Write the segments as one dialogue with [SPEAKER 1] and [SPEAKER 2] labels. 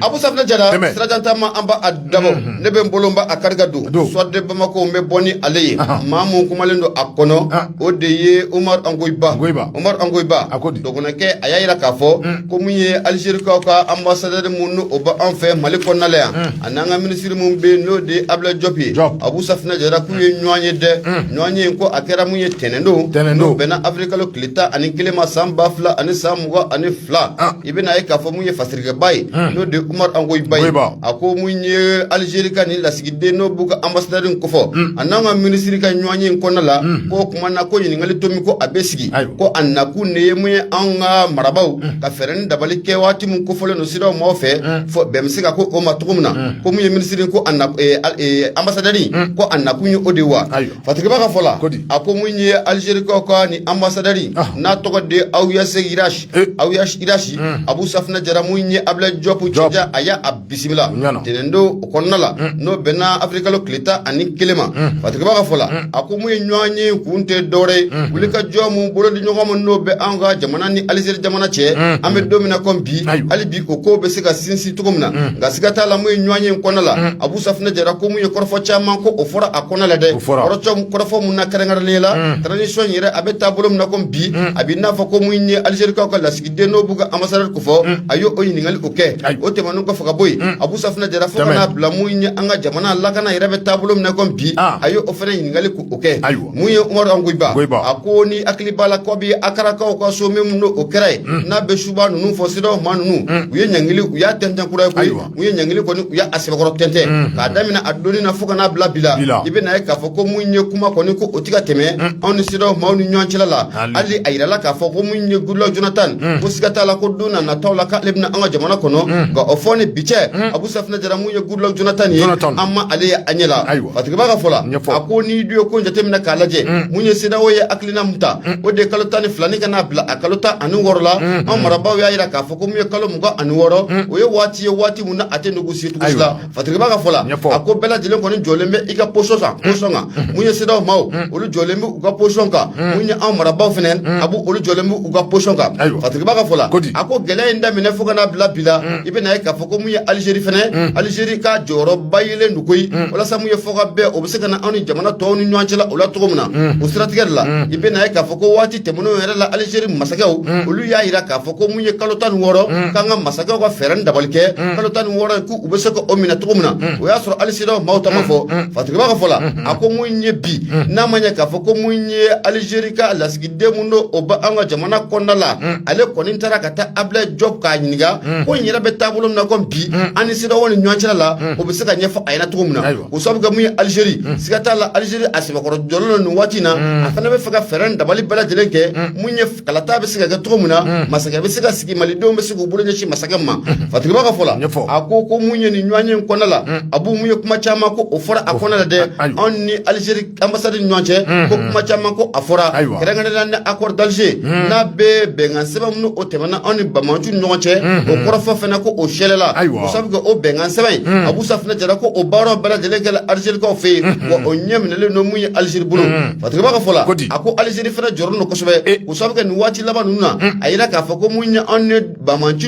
[SPEAKER 1] Abu Safinɛ Jara, Tɛmɛ, sira jan taama an b'a dabɔ, unhun, ne bɛ n bolo n b'a kari ka don, don, Soir de Bamako n bɛ bɔ ni ale ye, anhan, maa min kumalen don a kɔnɔ, an, o de ye Umaru Ankoyi Ba, Ankoyi Ba, Umaru Ankoyi Ba, a ko di, dɔgɔnɔkɛ a y'a jira k'a fɔ, un, ko min ye Alizerikaw ka ambassadeur min n'o bɛ an fɛ Mali kɔnɔna la yan, un, a n'an ka ministre min bɛ yen n'o de ye Abulayi Jɔpu ye, Jɔpu, Abu Safinɛ Jara k'u ye ɲɔgɔn ye dɛ, un, ɲɔgɔn ye in ko a kɛra min ye tɛnɛn don, tɛnɛn don, n'o bɛnna avril kalo tile tan ani kelen ma san ba fila ani san mugan ani fila, an, i bɛna a ye k'a fɔ min ye fasi ba ye n'o de Umaru Ankoyi Ba a ko mun ye alizeri ka ni lasigiden n'o b'u ka anbasadɛri in kofɔ a n'an ka minisiri ka ɲɔgɔn ye in kɔnɔna la k'o tuma na ko ɲininkali to min ko a bɛ sigi ko a nakun de ye mun ye an ka marabaw ka fɛɛrɛ ni dabali kɛ waati min kofɔlen don CEDEAO maaw fɛ fɔ bɛn bɛ se ka kɛ o ma cogo min na ko mun ye minisiri ko anbasadɛri ko a nakun ye o de wa fatigiba ka fɔ la a ko mun ye alizerikaw ka ni anbasadɛri n'a tɔgɔ de Awyase Ira Eh. aw y'irasi hmm. Abu Safinɛ Jara min ye abila jɔpu jɔja a y'a a bisimila ntɛnɛn don o kɔnɔna la hmm. n'o bɛnna avril kalo tile tan ani kelen ma hmm. fatigiba ka fɔ la a ko mun ye ɲɔgɔn ye kun tɛ dɔwɛrɛ ye wuli ka jɔ mun bolo di ɲɔgɔn ma n'o bɛ an ka jamana ni alizeri jamana cɛ an bɛ don min na kɔmi bi hali bi o ko bɛ se ka sinsin cogo min na nka siga t'a la mun ye ɲɔgɔn ye kɔnɔna la Abu Safinɛ Jara ko mun ye kɔrɔfɔ caman ko o fɔra a kɔnɔna la dɛ kɔrɔfɔ mun na kɛrɛnkɛrɛnnen la transition yɛrɛ a bɛ taabolo min na ko bi a bɛ n'a fɔ ko mun ye alizerikaw ka lasigiden n'o b'u ka anbasadɛri kofɔ a y'o o ɲininkali o kɛ o tɛmɛnen kɔfɛ ka bɔ yen Abu Safinɛ Jara fo ka na bila mun ye an ka jamana lakana yɛrɛ bɛ taabolo min na ko bi a y' o fana ɲininkali ko o kɛ mun ye Umaru Ankoyi Ba a ko n'i hakili b'a la kabi akarakaw ka sommet min n'o kɛra yen n'a bɛ suba ninnu fɔ CEDEAO maa ninnu u ye ɲangili u y'a tɛntɛn kura ye koyi U ye ɲangili kɔni u y' a sɛbɛkɔrɔ tɛntɛn k'a daminɛ a don na fo ka na bila bi la i bɛna a ye k'a fɔ ko mun ye kuma kɔni ko o tɛ ka tɛmɛ anw ni CEDEAO maaw ni ɲɔgɔn cɛla la hali a jirala k'a fɔ ko mun ye Goodluck Jonathan ko siga t'a la ko don nataw la k'ale bɛ na an ka jamana kɔnɔ nka o fɔ ni bi cɛ Abu Safinɛ Jara mun ye Goodluck Jonathan ye an ma ale ye an ɲɛ la ayiwa fatigiba ka fɔ la a ko n'i dun ye ko jateminɛ k'a lajɛ mun ye CEDEAO ye hakilina mun ta o de ye kalo tan ni filanin ka na bila a kalo tan ani wɔɔrɔ la an marabaaw y'a jira k'a fɔ ko mun ye kalo mugan ani wɔɔrɔ o ye waati ye waati min a tɛ négocier cogo si la fatigiba ka fɔ la a ko bɛɛ lajɛlen kɔni jɔlen bɛ i ka position kan position kan mun ye CEDEAO maaw olu jɔlen bɛ u ka position kan mun ye anw marabaaw fana Abu olu jɔlen bɛ u ka position kan fatigiba ka fɔ la a ko gɛlɛya in daminɛ fo ka n'a bila bi la i bɛna a ye k'a fɔ ko mun ye alizeri fana alizeri ka jɔyɔrɔba yelen don koyi walasa mun ye fɔkabɛn o bɛ se ka na anw ni jamana tɔw ni ɲɔgɔn cɛ la o la cogo min na o siratigɛ de la i bɛna a ye k'a fɔ ko waati tɛmɛnen yɛrɛ la alizeri masakɛw olu y'a jira k'a fɔ ko mun ye kalo tan ni wɔɔrɔ k'an ka masakɛw ka fɛɛrɛ ni dabali kɛ kalo tan ni wɔɔrɔ k'u bɛ se k'o minɛ cogo min na o y'a sɔrɔ hali sedeyawo maaw ta ma fɔ fatigiba ka fɔ la a ko mun ye bi n'a ma ɲɛ k'a fɔ ko mun ye alizeri ka lasigiden min don o bɛ an ka jamana kɔnɔna la ale kɔni taara ka taa abulayi jɔpu k'a ɲininka ko n yɛrɛ bɛ taabolo min na ko bi an ni sedeyawo ni ɲɔgɔn cɛla la o bɛ se ka ɲɛfɔ a ɲɛna cogo min na o sabu kɛ mun ye Algérie unhun siga t'a la Algérie a sɛbɛkɔrɔ jɔlen don nin waati in na unnn a fana bɛ fɛ ka fɛɛrɛ ni dabali bɛɛ lajɛlen kɛ unhun mun ye f kalata bɛ se ka kɛ cogo min na unhun masakɛ bɛ se ka sigi Malidenw bɛ se k'u bolo ɲɛsin masakɛ min ma unhun Fatigiba ka fɔ la a ko ko mun ye nin ɲɔgɔnye in kɔnɔna la unhun Abu mun ye kuma caman ko o fɔra a kɔnɔna la dɛ a ayiwa anw ni Algérie Anbasadi ni ɲɔgɔn cɛ ko kuma caman ko a fɔra kɛrɛnkɛrɛnna nin accord d'Alger n'a bɛ bɛnkan sɛbɛn minnu o tɛmɛna anw ni banbaanciw ɲɔgɔn cɛ o kɔrɔfɔ fana ko o sɛɛlɛla o sabu kɛ o bɛnkan sɛbɛn in abu safunɛ jara ko o baaraw bɛɛ lajɛlenkɛla alizerikaw fɛ yen wa o ɲɛ minɛlen don mun ye alizeri bolo fatigiba ka fɔ a ko alizeri fana jɔrɔlen don kosɛbɛ o sabu kɛ nin waati laban ninnu na a jira k'a fɔ ko mun ye anw Banbaanci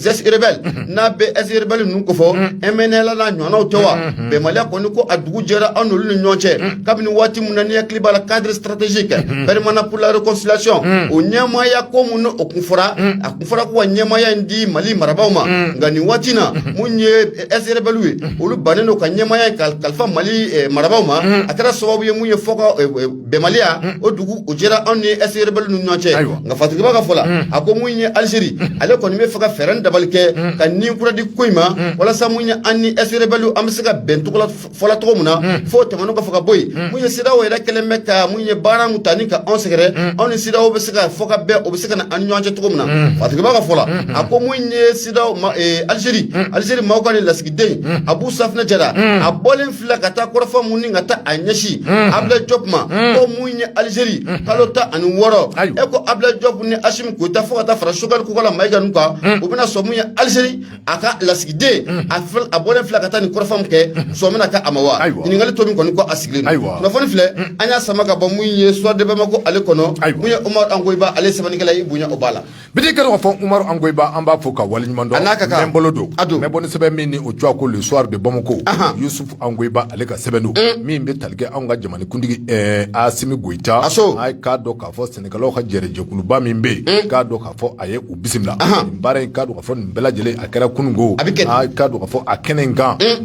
[SPEAKER 1] ex-rebelles n'a bɛ ex-rebelles ninnu kofɔ MNLA n'a ɲɔgɔnw tɛ wa bɛnbaliya kɔni ko a dugu jɛra anw n'olu ni ɲɔgɔn cɛ kabini waati min na n'a' hakili b'a la cadre stratégique permanent pour la réconciliation o ɲɛmaya ko minnu o kun fɔra a tun fɔra ko ka ɲɛmaya in di mali marabagaw ma nka nin waati na minnu ye ex-rebelles ye olu bannen don ka ɲɛmaya kalifa mali marabagaw ma a kɛra sababu ye mun ye fɔ bɛnbaliya o dugu o jɛra anw ni ex-rebelles ni ɲɔgɔn cɛ nka fatigiba ka fɔ la a ko mun ye alizeri ale kɔni bɛ fɛ ka fɛɛrɛ ni dabali kɛ ka ni kura di ko in ma walasa mun ye an ni ex-rebelles an bɛ se ka bɛn fɔ la cogo min na fo tɛmɛnen kɔ fo ka bɔ yen mun ye sedeyawo yɛrɛ kɛlen bɛ ka mun ye baara min ta ni ka anw sɛgɛrɛ anw ni sedeyawo bɛ se ka fɔ ka bɛn o bɛ se ka na an ni ɲɔgɔn cɛ cogo min na fatigiba ka fɔ la a ko mun ye sedeyawo alizeri alizeri maaw ka nin lasigiden abu safunɛ jara a bɔ filɛ ka taa kɔrɔfɔ minnu ka taa a ɲɛsin abulayi jɔpu ma ko mun ye alizeri kalo tan ani wɔɔrɔ e ko abulayi jɔpu ni asimi goyita fo ka taa fara sogɛli kokala mayiga ninnu kan u bɛna sɔn mun ye alizeri a ka lasigiden a a bɔlen filɛ ka taa ni kɔrɔfɔ min kɛ sɔn bɛna kɛ a ma wa ɲininkali tomi kɔni ko a sigilen kunnafoni filɛ an y'a sama ka bɔ mun ye soir de bamako ale kɔnɔ mun ye umaru angoyiba ale
[SPEAKER 2] sɛbɛnnikɛla
[SPEAKER 1] i bonya
[SPEAKER 2] o b'a
[SPEAKER 1] la Bɛ di k'a dɔn
[SPEAKER 2] k'a
[SPEAKER 1] fɔ
[SPEAKER 2] Umaru Angoyiba an
[SPEAKER 1] b'a fo
[SPEAKER 2] ka
[SPEAKER 1] waleɲuman dɔn,
[SPEAKER 2] a n'a ka kan, n
[SPEAKER 1] bɛ n bolo don, a don, n
[SPEAKER 2] bɛ bɔ ni sɛbɛn min ni o tɔgɔ ko le soir de Bamako, anhan, Yusufu Angoyiba ale ka sɛbɛn don, un, min bɛ tali kɛ anw ka jamanakuntigi ɛɛ Asimi Goyita, a so, a k'a dɔn k'a fɔ Senegalikaw ka jɛrɛjɛkuluba min bɛ yen, un, k'a dɔn k'a fɔ a ye u bisimila, anhan, nin baara in k'a dɔn k'a fɔ nin bɛɛ lajɛlen a kɛra kununko, a bɛ kɛ di, a k'a dɔn k'a fɔ a kɛnɛ in kan, un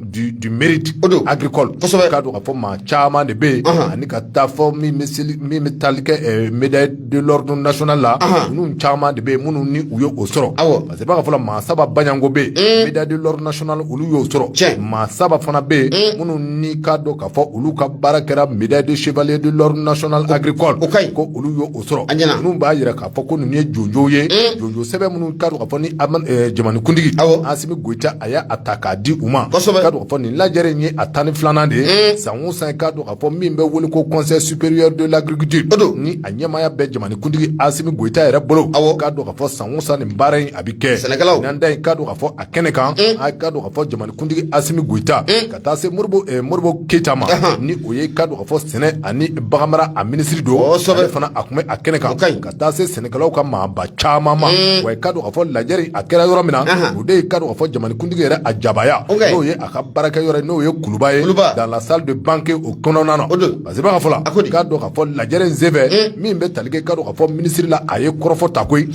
[SPEAKER 2] du, du mérite agricole kosɛbɛ k'a dɔn k'a fɔ maa caman de bɛ yen ani ka taa fɔ min bɛ seli min bɛ tali kɛ eh, médaille de l'ordre national la ninnu caman de bɛ yen minnu ni u ye o sɔrɔ awɔ parce que b'a ka fɔ la maa saba baɲanko bɛ yen médaille de l'ordre national olu y'o sɔrɔ tiɲɛ maa saba fana bɛ yen minnu ni k'a dɔn k'a fɔ olu ka baara kɛra médaille de chevalier de l'ordre national agricole o ka ɲi ko olu y'o sɔrɔ a ɲɛna ninnu b'a jira k'a a fɔ ko ninnu ye jɔnjɔn ye jɔnjɔn sɛbɛn minnu k'a dɔn k'a fɔ ni jamanakuntigi Asimi Goyita a y'a ta k'a di u ma k'a dɔn k'a fɔ nin lajɛrɛ in ye a tan ni filanan de ye san o san k'a dɔn k'a fɔ min bɛ wele ko conseil supérieur de l'agriculture ni a ɲɛmaaya bɛ jamanakuntigi Asimi Goyita yɛrɛ bolo aw k'a dɔn k'a fɔ san o san nin baara in a bɛ kɛ ɲinan ta in k'a dɔn k'a fɔ a kɛnɛ kan a k'a dɔn k'a fɔ jamanakuntigi Asimi Goyita ka taa se mori Modibo Keyita ma ni o ye k'a dɔn k'a fɔ sɛnɛ ani baganmara a minisiri don fana a tun bɛ a kɛnɛ kan ka taa se sɛnɛkɛlaw ka maaba caman ma wa k'a dɔn k'a fɔ lajɛrɛ a kɛra yɔrɔ min na o de ye k'a dɔn k'a fɔ jamanikuntigi yɛrɛ a jabaya n'o ye a ka baarakɛ yɔrɔ n'o ye kuluba ye dans la salle de banquet o kɔnɔna na parce que b'a ka fɔ la ko k'a dɔn k'a fɔ lajɛrɛ in senfɛ min bɛ tali kɛ k'a dɔn k'a fɔ minisiri la a ye kɔrɔfɔ ta koyi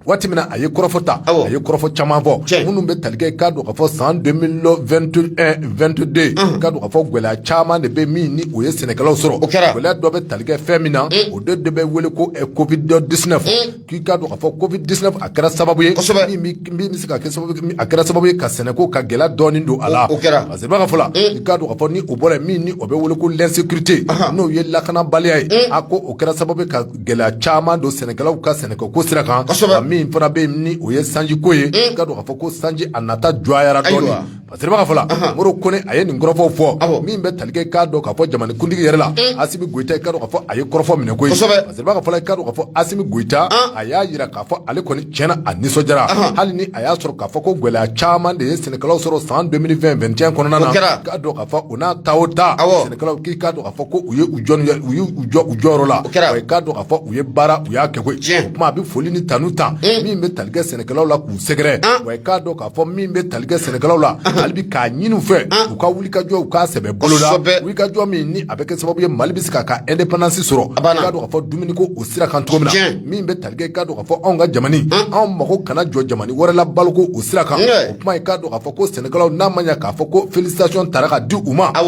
[SPEAKER 2] waati min na a ye kɔrɔfɔ ta a ye kɔrɔfɔ caman fɔ minnu bɛ tali kɛ k'a dɔn k'a fɔ san 2021-22 k'a dɔn k'a fɔ gɛlɛya caman de bɛ min ni o ye sɛnɛkɛlaw sɔrɔ gɛlɛya dɔ bɛ tali kɛ fɛn min na o de de bɛ wele ko covid 19 k'i k'a dɔn k'a fɔ covid 19 a kɛra sababu ye min bɛ se ka kɛ sababu a kɛra sababu ye ka sɛnɛko ka gɛlɛya dɔɔni don a la parce que b'a ka fɔ la i k'a dɔn k'a fɔ ni o bɔra min ni o bɛ wele ko l'insécurité n'o ye lakanabaliya ye a ko o kɛra sababu ka gɛlɛya caman don sɛnɛkɛlaw ka sɛnɛko sira kan min fana bɛ ni o ye sanjiko ye k'a dɔn k'a fɔ ko sanji a nata juguyara dɔɔnin parce que b'a ka fɔ la Modibo a ye nin kɔrɔfɔw fɔ min bɛ tali kɛ k'a dɔn k'a fɔ jamanakuntigi yɛrɛ la Asimi Goyita i k'a dɔn k'a fɔ a ye kɔrɔfɔ minɛ koyi parce que b'a ka fɔ la i k'a dɔn k'a fɔ Asimi Goyita a y'a jira k'a fɔ ale kɔni tiɲɛ na a nisɔndiyara hali ni a y'a sɔrɔ k'a fɔ ko gɛlɛya caman de ye sɛnɛkɛlaw sɔrɔ san 2021-22 kɔnɔna na k'a dɔn k'a fɔ o n'a ta o ta sɛnɛkɛlaw k'i k'a a fɔ ko u ye u jɔ u y' u jɔ u jɔyɔrɔ la kɛra ye k'a dɔn k'a fɔ u ye baara u y'a kɛ o tuma a bɛ foli ni tanu ta min bɛ tali kɛ sɛnɛkɛlaw la k'u sɛgɛrɛ wa k'a dɔn k'a fɔ min bɛ tali kɛ sɛnɛkɛlaw la hali bi k'a ɲini u fɛ u ka wulikajɔ u k'a sɛbɛ boloda wulikajɔ min ni a bɛ kɛ sababu ye mali bɛ se k'a ka indépendance sɔrɔ a b'a dɔn k'a fɔ dumuniko o sira kan cogo min na min bɛ tali kɛ i k'a dɔn k'a fɔ anw ka jamana anw mago kana jɔ jamana wɛrɛ la baloko o sira kan o kuma i k'a dɔn k'a fɔ ko sɛnɛkɛlaw n'a ma k'a fɔ ko félicitation taara ka di u ma ka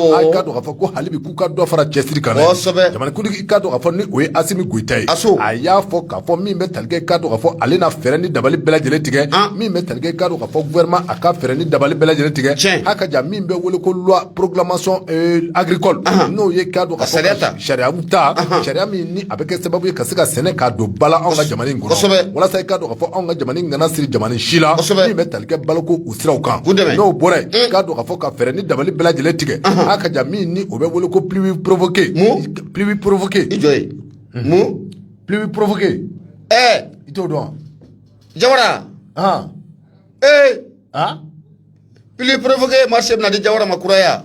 [SPEAKER 2] ko hali bi k'u ka dɔ fara cɛsiri kan dɛ, kosɛbɛ, jamanakundigi i k'a dɔn k'a fɔ ni o ye Asimi Goyita ye, Aso, a y'a fɔ k'a fɔ min bɛ tali kɛ i k'a dɔn k'a fɔ ale na fɛɛrɛ ni dabali bɛɛ lajɛlen tigɛ, an, min bɛ tali kɛ i k'a dɔn k'a fɔ gouvernement a ka fɛɛrɛ ni dabali bɛɛ lajɛlen tigɛ, tiɲɛ, a ka jan min bɛ wele ko loi programmation euh, agricole Ahan. n'o ye k'a dɔn k'a Ka sariya ta. fɔ sariyaw ta Ahan. sariya min ni a bɛ kɛ sababu ye ka se ka sɛnɛ k'a don ba la anw ka jamana in kosɛbɛ. kɔnɔ walasa i k'a dɔn k'a fɔ anw ka jamana in kana siri jamana si la Kosɛbɛ. min bɛ tali kɛ baloko siraw kan u dɛmɛ n'o bɔra yen i k'a dɔn k'a fɔ ka fɛɛrɛ ni dabali bɛɛ lajɛlen tigɛ a ka jan min ni o bɛ wele ko pluie provoquée mun pluie provoquée i jɔ ye mun pluie provoquée ɛɛ i t'o dɔn wa
[SPEAKER 1] jawara han ee han pluie provoquée marché bɛna di jawara ma kuraya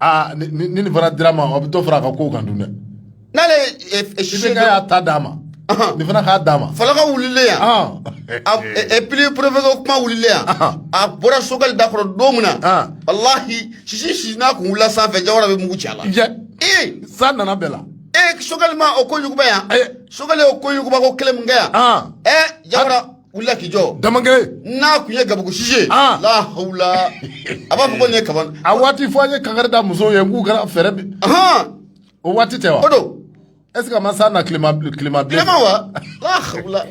[SPEAKER 2] aa ni ni- ni nin fana dira ma a bɛ dɔ fara a ka kow kan dun dɛ n'ale
[SPEAKER 1] ye e- e- i sise bɛ
[SPEAKER 2] kɛ y'a ta d'a ma Ahan. nin fana k'a d'a ma falaka wulilen yan
[SPEAKER 1] Ah. a e- e pluie professeur kuma wulilen yan Ahan. a bɔra Sogɛli da kɔrɔ don min na Ah. walahi sisi si n'a kun wulila sanfɛ jawara bɛ mugu ci a la Jɛ, ee
[SPEAKER 2] san nana bɛɛ la ee Sogɛli ma o
[SPEAKER 1] ko yuguba yan Ayi. Sogɛli y'o ko yuguba ko kelen min kɛ yan Ah. ee jawara wulila k'i jɔ Damangile n'a
[SPEAKER 2] tun ye
[SPEAKER 1] gabugu sisi Ah. la hawula a b'a fɔ ko nin ye kaba a waati fɔ an ye
[SPEAKER 2] kangari da musow ye k'u kana fɛɛrɛ bi ahan o waati tɛ wa o don
[SPEAKER 1] est ce que a ma
[SPEAKER 2] san na tilema tilema bilen tilema
[SPEAKER 1] wa la hawula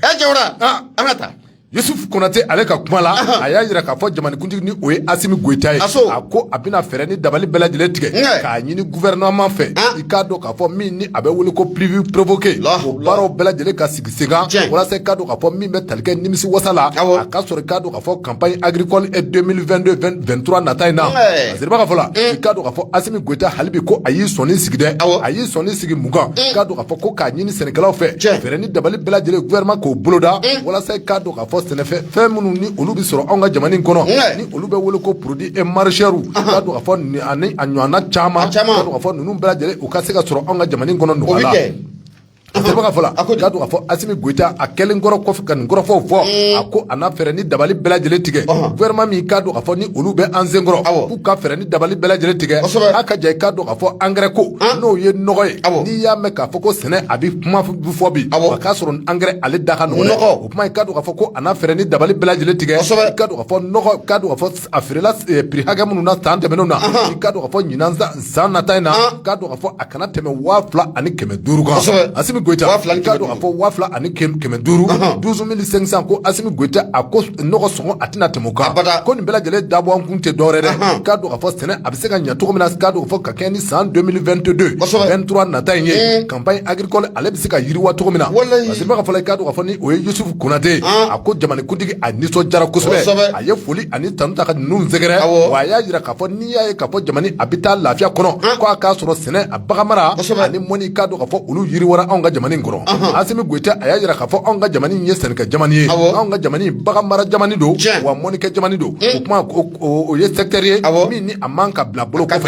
[SPEAKER 1] ɛ jawara Ah. an ka taa
[SPEAKER 2] Yusuf Konate ale ka kuma la a y'a jira k'a fɔ jamanikuntigi ni o ye Asimi Goyita ye a ko a bɛna fɛɛrɛ ni dabali bɛɛ lajɛlen tigɛ k'a ɲini gouvernement fɛ ah. i k'a dɔn k'a fɔ min ni a bɛ wele ko pluie provoquée o baaraw bɛɛ lajɛlen ka sigi sen kan walasa i k'a dɔn k'a fɔ min bɛ tali kɛ nimisi wasa la a ka sɔrɔ i k'a dɔn k'a fɔ campagne agricole 2022 2023 nata in na a seriba ka fɔ la i k'a dɔn k'a fɔ Asimi Goyita hali bi ko a y'i sɔnin sigi dɛ a y'i sɔnin sigi mun kan i k'a dɔn A fɔ ko k'a ɲini sɛnɛkɛlaw fɛ fɛɛrɛ ni dabali bɛɛ lajɛlen gouvernement k'o boloda walasa k'a dɔn k'a fɔ sɛnɛfɛn fɛn minnu ni olu bɛ sɔrɔ anw ka jamana in kɔnɔ ni olu bɛ wele ko produits e maraîchers k'a dɔn k'a fɔ ani a ɲɔgɔnna caman k'a dɔn k'a fɔ ninnu bɛɛ lajɛlen u ka se ka sɔrɔ anw ka jamana in kɔnɔ nɔgɔya la seriba ka fɔ la k'a dɔn k'a fɔ Asimi Goyita a kɛlen kɔrɔ kɔfɛ ka nin kɔrɔfɔw fɔ a ko a na fɛɛrɛ ni dabali bɛɛ lajɛlen tigɛ gouvernement min k'a dɔn k'a fɔ ni olu bɛ an sen kɔrɔ u ka fɛɛrɛ ni dabali bɛɛ lajɛlen tigɛ a ka ja i k'a dɔn k'a fɔ engrais ko n'o ye nɔgɔ ye n'i y'a mɛn k'a fɔ ko sɛnɛ a bɛ kuma fɔ bi a k'a sɔrɔ engrais ale da ka nɔgɔ o kuma i k'a dɔn k'a fɔ ko a na fɛɛrɛ ni dabali bɛɛ lajɛlen tigɛ i k'a dɔn k'a fɔ nɔgɔ k'a dɔn k'a fɔ a feerela prix hakɛ minnu na san tɛmɛnenw na i k'a dɔn k'a fɔ ɲinan san nata in na k'a dɔn k'a fɔ a kana tɛmɛ waa fila ani kɛmɛ duuru kan asimi goyita k'a dɔn k'a fɔ waa fila ani kɛmɛ duuru douze mille cinq cents ko asimi goyita a ko nɔgɔ sɔngɔ a tɛna tɛmɛ o kan ko nin bɛɛ lajɛlen dabɔ a kun tɛ dɔwɛrɛ dɛ k'a dɔn k'a fɔ sɛnɛ a bɛ se ka ɲɛ cogo min na k'a dɔn k'a fɔ ka kɛɲɛ ni san 2022 23 nata in ye campagne agricole ale bɛ se ka yiriwa cogo min na a seriba ka fɔ k'a dɔn k'a fɔ ni o ye yusufu konate a ko jamanakuntigi a nisɔndiyara kosɛbɛ a ye foli ani tanu ta ka ninnu sɛgɛrɛ wa a y'a jira k'a fɔ n'i y'a ye k'a fɔ jamana a bɛ taa lafiya kɔnɔ ko a k'a sɔrɔ sɛnɛ a baganmara ani mɔni k'a dɔn k'a fɔ olu yiriwara anw ka jamana kɔnɔ Asimi Goyita a y'a jira k'a fɔ anw ka jamana ye sɛnɛkɛ jamana ye anw ka jamana baganmara jamana don wa mɔnikɛ jamana don o kuma o ye secteur ye min ni a man ka bila bolo kɔ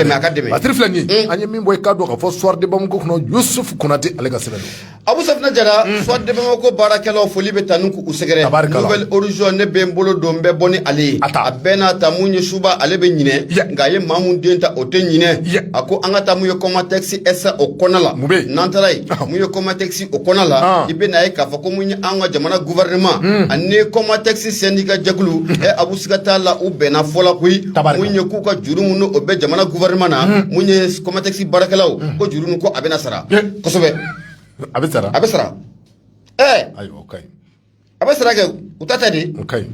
[SPEAKER 2] Basiri filɛ nin an ye min bɔ i k'a dɔn k'a fɔ Soir de Bamako kɔnɔ Yusuf Konate ale ka sɛbɛn Abu safinɛ
[SPEAKER 1] jara Soir de Bamako baarakɛlaw foli bɛ taa n'u k'u sɛgɛrɛ Nouvel Horizon ne bɛ n bolo don n bɛ bɔ ni ale ye a bɛɛ n'a ta mun ye suba ale bɛ ɲinɛ nka a ye maa mun den ta o tɛ ɲinɛ a ko an ka taa mun ye kɔmatɛkisi SA o kɔnɔ la n'an taara yen mun ye kɔmatɛkisi o kɔnɔ la i bɛ na ye k'a fɔ ko mun ye an ka jamana gouvernement ani kɔmatɛkisi syndicat jɛkulu ɛ abu siga t'a la u bɛnna fɔ la koyi mun ye k'u ka juru minnu o bɛ jamana gouvernement na mun ye kɔmatɛkisi baarakɛlaw ko juru ninnu ko a bɛna sara a bɛ
[SPEAKER 2] sara a bɛ
[SPEAKER 1] sara
[SPEAKER 2] ɛɛ ayiwa o ka ɲi a bɛ sara
[SPEAKER 1] kɛ u ta tɛ de o ka ɲi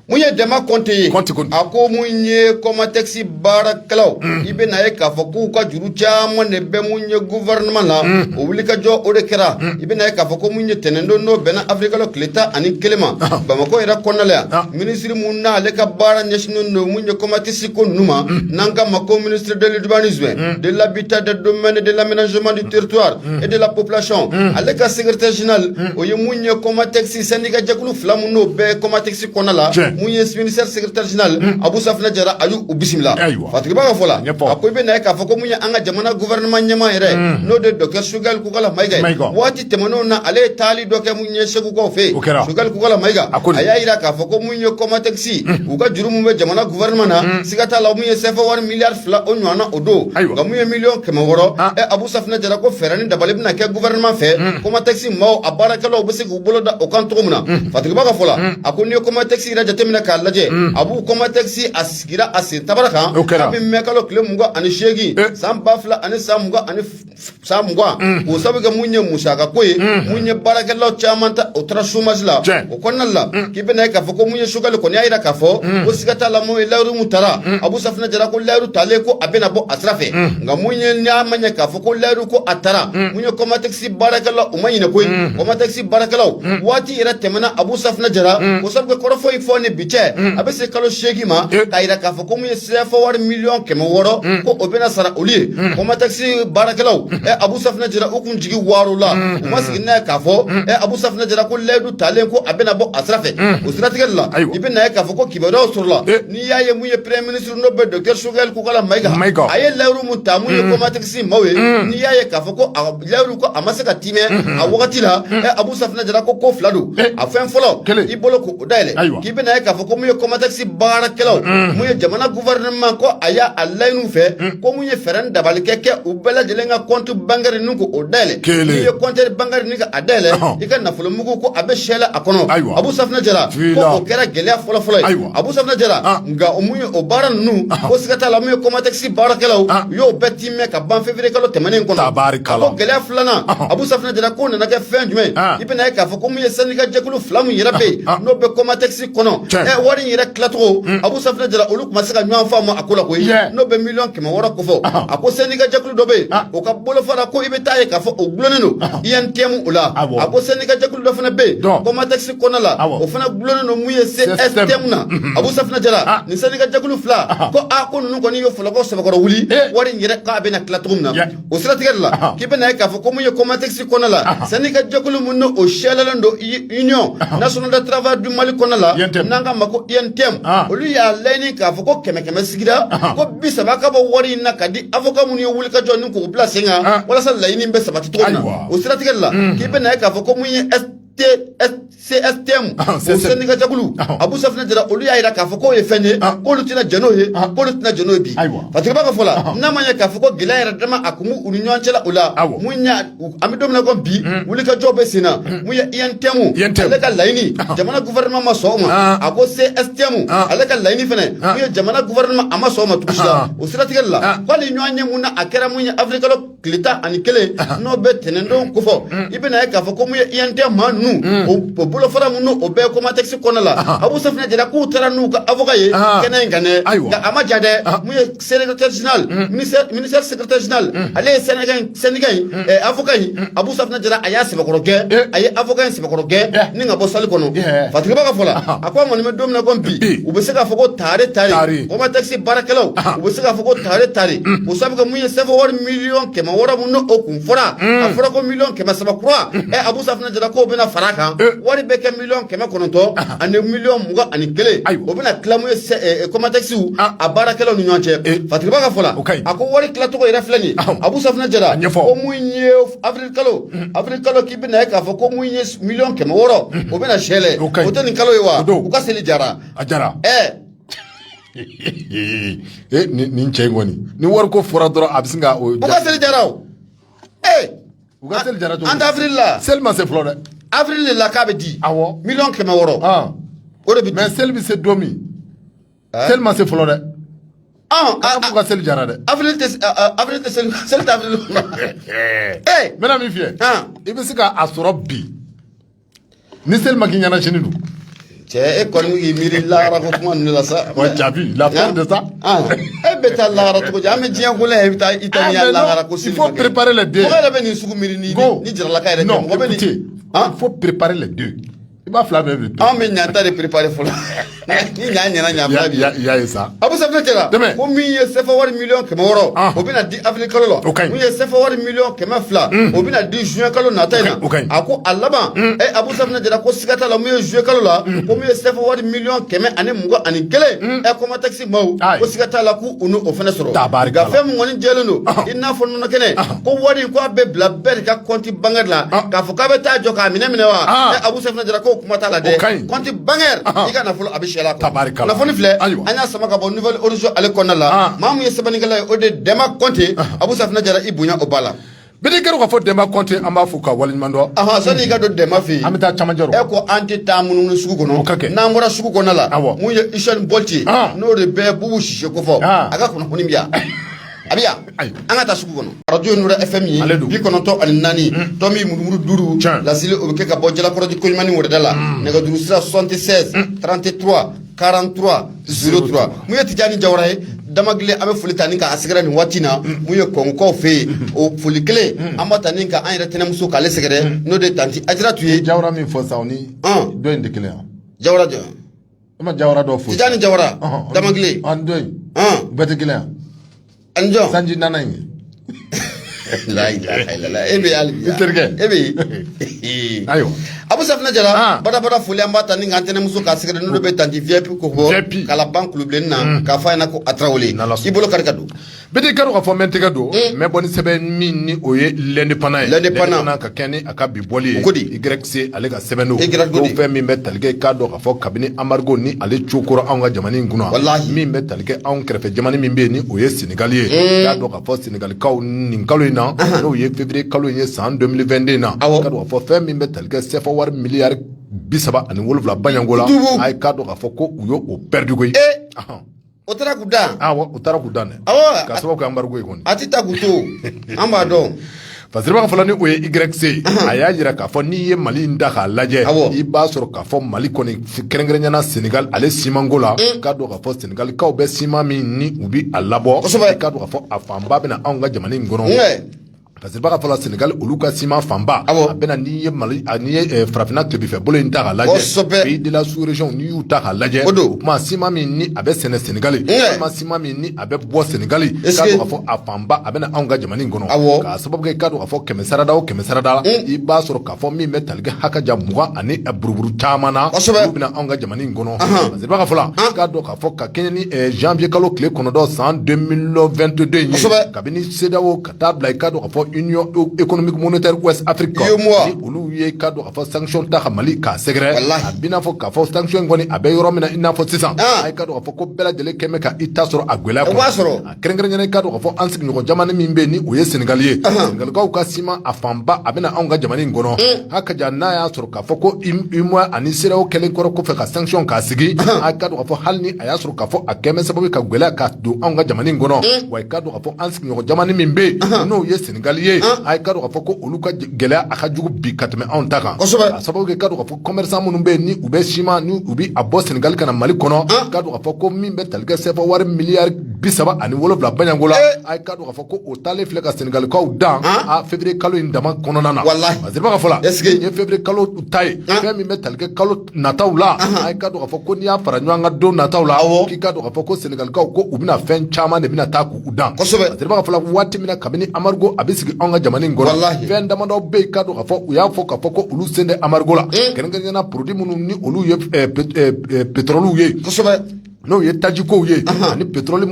[SPEAKER 2] mun ye
[SPEAKER 1] dɛma kɔnte ye Kɔnte, Kɔnte. a ko mun ye kɔmatɛkisi baarakɛlaw i bɛ na ye k'a fɔ k'u ka juru caman de bɛ mun ye guvɛrɛnɛman na o wulikajɔ o de kɛra i bɛ na ye k'a fɔ ko mun ye tɛnɛndon n'o bɛnna awirilikalo tile tan ani kelen ma bamakɔ yɛrɛ kɔnɔna la yan Ah. minisiri mun n'ale ka baara ɲɛsinnen don mun ye kɔmatɛkisi ko ninnu ma n'an k'a ma ko ministre de l'urbanisme de la habitat des domaines de l'aménagement du territoire et de la population ale ka secrétaire général o ye mun ye Comatex syndicat jɛkulu fila mun n'o bɛ Comatex kɔnɔ la Tiɲɛ. mun ye ministère secrétaire général abu safina jara a y'u u bisimila Ayiwa. fatigiba ka fɔ la Ɲɛfɔ. a ko i bɛ na ye k'a fɔ ko mun ye an ka jamana gouvernement ɲɛmaa yɛrɛ n'o de ye docteur sogɛli kukala mayiga ye Mayiga. waati tɛmɛnenw na ale ye taali dɔ kɛ mun ye segukaw fɛ yen o kɛra sogɛli kukala mayiga a ko a y'a jira k'a fɔ ko mun ye kɔmatɛkisi u ka juru min bɛ jamana gouvernement na siga t'a la mun ye sefa wari miliyari fila o ɲɔgɔnna o don nka mun ye miliyɔn kɛmɛ wɔɔrɔ ɛ abu safinɛ jara ko fɛɛrɛ ni dabali bɛna kɛ gouvernement fɛ kɔmatɛkisi maaw a baarakɛlaw bɛ se k'u bolo da o kan cogo min na fatigiba ka fɔ la a ko n'i ye kɔmatɛkisi yɛrɛ jateminɛ k'a lajɛ abu kɔmatɛkisi a sigira a sen tabara kan kabini mɛkalo tile mugan ani seegin san ba fila ani san mugan ani san mugan mm. o sabu kɛ mun ye musaka ko ye mm. mun ye baarakɛlaw caman ta o taara chômage la o kɔnɔna la mm. k'i bɛ na ye k'a fɔ ko mun ye sogɛli kɔni y'a jira k'a fɔ ko siga t'a la mun ye layiru mun tara abu safinɛ jara ko layiru talen ko a bɛna bɔ a sira fɛ nka mun ye n'a ma ɲɛ k'a fɔ ko layiru ko a tara mun ye kɔmatɛkisi baarakɛlaw o ma ɲinɛ koyi kɔmatɛkisi baarakɛlaw waati yɛrɛ tɛmɛna abu safinɛ jara o sabu kɛ kɔrɔfɔ in fɔ ni bi cɛ a bɛ se kalo seegin ma k'a jira k'a fɔ ko mun ye sefa wari miliyɔn kɛmɛ wɔɔrɔ ko o bɛna sara olu ye kɔmatɛkisi baarakɛlaw ɛ abu safinɛ jira u kun jigi wari o la u ma sigi n'a ye k'a fɔ ɛ abu safinɛ jira ko layidu talen ko a bɛna bɔ a sira fɛ o siratigɛ de la i bɛ na ye k'a fɔ ko kibaruyaw sɔrɔla n'i y'a ye mun ye premier ministre n'o bɛ docteur sogɛli kukala mayiga a ye layiru mun ta mun ye kɔmatɛkisi maaw ye n'i y'a ye k'a fɔ ko a layiru ko a ma se ka tiimɛ a wagati la abu safinɛ jara ko ko fila don a fɛn fɔlɔ i bolo ko o dayɛlɛ k'i bɛ na ye k'a fɔ ko mun ye kɔmatɛkisi baarakɛlaw mun ye jamana gouvernement ko a y'a a laɲini u fɛ ko mun ye fɛɛrɛ dabali ka kɛ u bɛɛ lajɛlen ka compte bancaire ninnu ko o dayɛlɛ n'i ye compte bancaire nin a dayɛlɛ i ka nafolomugu ko a bɛ sɛla a kɔnɔ abu safinɛ jara ko o kɛra gɛlɛya fɔlɔfɔlɔ ye abu safinɛ jara nka mun ye o baara ninnu ko siga t'a la mun ye kɔmatɛkisi baarakɛlaw u y'o bɛɛ ka ban février kalo tɛmɛnen kɔnɔ ko gɛlɛya filanan Abu Safinɛ Jara ko nana kɛ fɛn jumɛn i bɛna ye k'a fɔ ko mun ye syndicat jɛkulu fila min yɛrɛ bɛ yen n'o bɛ kɔmatɛkisi kɔnɔ wari in yɛrɛ tilacogo Abu Safinɛ Jara olu tun ma se ka ɲɔgɔn faamu a ko la ko n'o bɛ miliyɔn kɛmɛ wɔɔrɔ kofɔ a ko syndicat jɛkulu dɔ bɛ yen o ka bolofara ko i bɛ taa ye k'a fɔ o dulonnen don UNTM o la a ko syndicat jɛkulu dɔ fana bɛ yen kɔmatɛkisi kɔnɔ la o fana dulonnen don mun ye CSTM na Abu Safinɛ Jara nin syndicat jɛkulu fila ko kɔni ye fɔlɔkɔ sɛbɛkɔrɔ wuli wari in yɛrɛ k'a bɛna tila cogo min na o siratigɛ de la k'i bɛna ye k'a fɔ ko mun ye kɔmatɛkisi kɔnɔ la syndicat jɛkulu mun n'o o sɛlɛlen don union nationale de travail du mali kɔnɔ la n'an k'a ma ko UNTM olu y'a laɲini k'a fɔ ko kɛmɛ kɛmɛ sigira ko bi saba ka bɔ wari in na ka di avocat minnu ye wulikajɔ nin ko bila sen kan walasa laɲini bɛ sabati cogo min na o siratigɛ de la k'i bɛna ye k'a fɔ ko mun ye CSTM ah, o syndicat jɛkulu ah. Abu Safinɛ Jara olu y'a jira k'a fɔ k'o ye fɛn ye ah. k'olu tɛna jɛn n'o ye k'olu tɛna jɛn n'o ye bi Fatigiba ka fɔ la n'a ma ɲɛ k'a fɔ ko gɛlɛya yɛrɛ dama a kun b'u u ni ɲɔgɔn cɛ la o la mun y'a an bɛ don min na ko bi hmm. wulikajɔ bɛ sen na hmm. mun ye UNTM ale ka laɲini jamana gouvernement ma sɔn o ma a ko CSTM ale ka laɲini fɛnɛ mun ye jamana gouvernement a ma sɔn o ma tugu si la o siratigɛ de la ko hali ɲɔgɔnye mun n'a kɛra mun ye avril kalo tile tan ani kelen n'o bɛ tɛnɛndon kofɔ mm. i bɛna ye k'a fɔ ko mun ye UNTM maa ninnu mm. o bolofara minnu o bɛ kɔmatɛkisi kɔnɔ la Abu Safinɛ Jara k'u taara n'u ka avocat ye kɛnɛ in kan dɛ nka a ma ja dɛ mun ye secrétaire général mm. ministère secrétaire général ale ye syndicat in syndicat in avocat in Abu Safinɛ Jara a y'a sɛbɛkɔrɔ gɛn eh. a ye avocat in ni ka bɔ salle kɔnɔ Fatigiba ka fɔ la a ko an kɔni bɛ don min na ko bi u bɛ se k'a fɔ ko tare tare kɔmatɛkisi baarakɛlaw u bɛ se k'a fɔ ko tare tare o sabu kɛ mun ye sefa wari miliyɔn kɛmɛ wɔɔrɔ min n'o kun fɔra a fɔra ko miliyɔn kɛmɛ saba kura ɛ Abu Safinɛ Jara k'o bɛna fara kan wari bɛ kɛ miliyɔn kɛmɛ kɔnɔntɔn ani miliyɔn mugan ani kelen o bɛna tila mun ye kɔmatɛkisi a baarakɛlaw ni ɲɔgɔn cɛ Fatigiba ka fɔ la a ko wari tilacogo yɛrɛ filɛ nin ye Abu Safinɛ Jara ko mun ye kalo avril kalo k'i bɛna ye k'a fɔ ko mun ye miliyɔn kɛmɛ wɔɔrɔ o bɛna sɛlɛ o tɛ nin kalo ye wa u ka seli jara a jara ɛɛ
[SPEAKER 2] ee nin cɛ in kɔni ni wari ko fɔra dɔrɔn a bɛ sin ka o u ka seli jara
[SPEAKER 1] o
[SPEAKER 2] ee u ka seli jara cogo an tɛ avril la seli
[SPEAKER 1] ma se fɔlɔ
[SPEAKER 2] dɛ avril de la k'a bɛ
[SPEAKER 1] di awɔ miliyɔn kɛmɛ wɔɔrɔ o de bɛ di mais seli bɛ se don min
[SPEAKER 2] seli ma se fɔlɔ dɛ a fɔ ka seli jara dɛ avril tɛ
[SPEAKER 1] avril tɛ seli seli tɛ
[SPEAKER 2] avril ee n bɛna min f'i ye i bɛ se ka a sɔrɔ bi ni seli ma k'i ɲɛna sini dun cɛ e kɔni
[SPEAKER 1] k'i miiri lahara ko kuma ninnu la sa wa jaabi la
[SPEAKER 2] fin de ça e bɛ
[SPEAKER 1] taa lahara cogo di an bɛ diɲɛ ko la i bɛ taa i ta ni ya lahara ko seli ma kɛ il faut préparer les deux
[SPEAKER 2] mɔgɔ
[SPEAKER 1] yɛrɛ
[SPEAKER 2] bɛ nin sugu miiri ni
[SPEAKER 1] ni jaralaka yɛrɛ tɛ mɔgɔ bɛ nin il faut préparer
[SPEAKER 2] les deux i b'a fila bɛɛ bi an bɛ ɲata de
[SPEAKER 1] préparer fɔlɔ ni ɲa ɲɛna ɲa bi i y'a ye sa Abu
[SPEAKER 2] Sɛfina Jara
[SPEAKER 1] ko min ye sɛfa wari miliyɔn kɛmɛ wɔɔrɔ o bɛna di avril kalo la o ka ɲi min ye sɛfa wari miliyɔn kɛmɛ fila o bɛna di juin kalo nata in na o ka ɲi a ko a laban ɛ Abu Sɛfina Jara ko siga t'a la min ye juin kalo la ko min ye sɛfa wari miliyɔn kɛmɛ ani mugan ani kelen ɛ kɔmatɛsi ko siga t'a la k'u n'o fana sɔrɔ, tabaarikala, nka fɛn min kɔni jɛlen don, ɔhɔ, i n'a fɔ nɔnɔ kɛnɛ, ɔhɔ, ko wari in ko a bɛ bila bɛɛ de ka compte bancaire la, ɔhɔ, k'a fɔ k'a bɛ taa jɔ k'a minɛ minɛ wa, ɔhɔ, ɛ Abu Sɛfina Jara k'o kuma t'a la dɛ, o ka ɲi, compte bancaire, ɔhɔ, i ka nafolo a bɛ siyɛ la, tabaarikala, kunnafoni filɛ, ayiwa, an y'a sama ka bɔ Nouvel Horizon ale kɔnɔna la, ɔhɔ, maa min ye sɛbɛnnikɛla ye o de ye Dɛma Kɔnte, ɔhɔ, Abu Sɛfina Jara i bonya o b'a la. Bikɛ ka fɔ
[SPEAKER 2] Dɛma Kɔnte an b'a fo ka waleɲumandɔn sani ka don Dɛma
[SPEAKER 1] fɛ an bɛ taa camancɛ e
[SPEAKER 2] ko an tɛ taa
[SPEAKER 1] munumunu sugu kɔnɔ ka kɛ n'an bɔra sugu kɔnɔ la min ye Usain Bolt ye n'o de bɛ Bubu Sise kofɔ a ka kunnafoni bɛ yan a bɛ yan an ka taa sugu kɔnɔ arajo Nura FM ale don bi kɔnɔntɔn ani naani tomi murumuru duuru laseli o bɛ kɛ ka bɔ Jalakɔrɔji Koɲumani Wɛrɛda la nɛgɛjuru sira soixante-seize trente-trois 43 03 mun ye Tijani Jawara ye Damagile an bɛ foli ta ni k'a sɛgɛrɛ nin waati in na mun ye Kongokaw fɛ yen o foli kelen an b'a ta ni ka an yɛrɛ tɛnɛmuso k'ale sɛgɛrɛ n'o de ye tanti Ajaratu ye Jawara min fɔ sisan o
[SPEAKER 2] ni dɔ in tɛ kelen ye Jawara jumɛn
[SPEAKER 1] e ma Jawara
[SPEAKER 2] dɔ fɔ Tijani Jawara
[SPEAKER 1] Damagile a ni dɔ in
[SPEAKER 2] bɛɛ tɛ kelen ye.
[SPEAKER 1] Anjɔ sanji nana in e bɛ hali i
[SPEAKER 2] terikɛ
[SPEAKER 1] e bɛ ayiwa Abu Sɛfina Jara badabada foli an b'a ta ni k'an tɛnɛmuso k'a sɛgɛrɛ n'o de bɛ tanti VIP kofɔ Kalaban Kulubilenni na k'a fɔ a ɲɛ na ko a Tarawele i bolo kari ka don bidi kari ka fɔ
[SPEAKER 2] mɛ tɛgɛ don mɛ bɔ ni sɛbɛn min ni o ye L'Indépendant ye L'Indépendant ka kɛɲɛ ni a ka bi bɔli ye Y C ale ka sɛbɛn don o fɛn min bɛ tali kɛ k'a dɔn k'a fɔ kabini anbarigo ni ale cokora anw ka jamana in kunna min bɛ tali kɛ anw kɛrɛfɛ jamana min bɛ yen ni o ye Senegali ye k'a dɔn k'a fɔ Senegalikaw nin kalo in na n'o ye février kalo in ye san 2022 in na k'a dɔn k'a fɔ fɛn min bɛ tali kɛ sɛfa wari miliyari bi saba ani wolowula bayanko la a ye k'a dɔn k'a fɔ ko u ye o perdu koyi O
[SPEAKER 1] taara k'u dan, awɔ o taara k'u dan,
[SPEAKER 2] awɔ, k'a sababu kɛ anbarigo ye kɔni, a tɛ taa k'u
[SPEAKER 1] to an b'a dɔn. Fasiribaa ka fɔ
[SPEAKER 2] la ni o ye YC a y'a jira k'a fɔ n'i ye Mali in ta k'a lajɛ i b'a sɔrɔ k'a fɔ Mali kɔni kɛrɛnkɛrɛnnenya na Senegal ale simanko la mm. k'a dɔn k'a fɔ Senegalikaw bɛ siman min ni u bɛ a labɔ k'a dɔn k'a fɔ a fanba bɛ na anw ka jamana in kɔnɔ. fasiribaa ka fɔ la Senegali olu ka siman fanba a bɛ na n'i ye mali n'i ye eh, farafinna tilebinfɛ bolo in ta k'a lajɛ pays de la sous région n'i y'u ta ka lajɛ o don o tuma siman min ni a bɛ sɛnɛ senegali walima siman min ni a bɛ bɔ senegali k'a dɔn k'a fɔ a fanba a bɛ na anw ka jamana in kɔnɔ k'a sababu kɛ k'a dɔn k'a fɔ kɛmɛ sarada o kɛmɛ sarada la i b'a sɔrɔ k'a fɔ min bɛ tali kɛ hakaja mugan ani buruburu caman na olu bɛ na anw ka jamana in kɔnɔ fasiribaa ka fɔ la k'a dɔn k'a fɔ ka kɛɲɛ ni eh, janvier kalo tile kɔnɔntɔn san 2022 in ye kabini CEDEAO ka taa bila i k'a dɔn k'a fɔ économique monétaire ouest Afrique kan ni olu ye i k'a dɔn k'a fɔ sanction ta ka Mali k'a sɛgɛrɛ a b'i n'a fɔ k'a fɔ sanction kɔni a bɛ yɔrɔ min na i n'a fɔ sisan a i k'a dɔn k'a fɔ ko bɛɛ lajɛlen kɛlen bɛ ka i ta sɔrɔ a gɛlɛya kɔnɔ a kɛrɛnkɛrɛnnenya na i k'a dɔn k'a fɔ an sigiɲɔgɔn jamana min bɛ yen ni o ye Senegal ye Senegalikaw ka siman a fanba a bɛ na anw ka jamana in kɔnɔ a ka jan n'a y'a sɔrɔ k'a fɔ ko UEMOA ani CEDEAO kɛlen kɔrɔ kɔfɛ ka sanction k'a sigi a i k'a dɔn k'a fɔ hali ni a y'a sɔrɔ k'a fɔ a kɛlen bɛ sababu ka gɛlɛya ka don anw ka jamana in kɔnɔ wa i k'a dɔn k'a fɔ an ɲɔgɔn jamana min bɛ yen n'o ye Senegali ye a ye k'a dɔn k'a fɔ ko olu ka gɛlɛya a ka jugu bi ka tɛmɛ anw ta kan a sababu kɛ k'a dɔn k'a fɔ commerçant minnu bɛ yen ni u bɛ siman ni u bɛ a bɔ Senegali ka na Mali kɔnɔ k'a dɔn k'a fɔ ko min bɛ tali kɛ sɛfa wari miliyari bisaba ani wolonwula bayanko la a ye k'a dɔn k'a fɔ ko o taalen filɛ ka Senegalikaw dan a février kalo in dama kɔnɔna na parce que b'a fɔ la nin ye février kalo ta ye fɛn min bɛ tali kɛ kalo nataw la a ye k'a dɔn k'a fɔ ko n'i y'a fara ɲɔgɔn kan don nataw la k'i k'a dɔn k'a fɔ ko Senegalikaw ko u bɛna fɛn caman de bɛna taa k'u dan parce que b'a fɔ la waati min na kabini embargo a bɛ sigi anw ka jamana in kɔnɔ fɛn damadɔ bɛ yen k'a dɔn k'a fɔ u y'a fɔ k'a fɔ ko olu sen tɛ embargo la kɛrɛnkɛrɛnnenya na produit minnu ni olu ye petɔrɔliw ye N'o ye tajikow ye ani petɔrɔli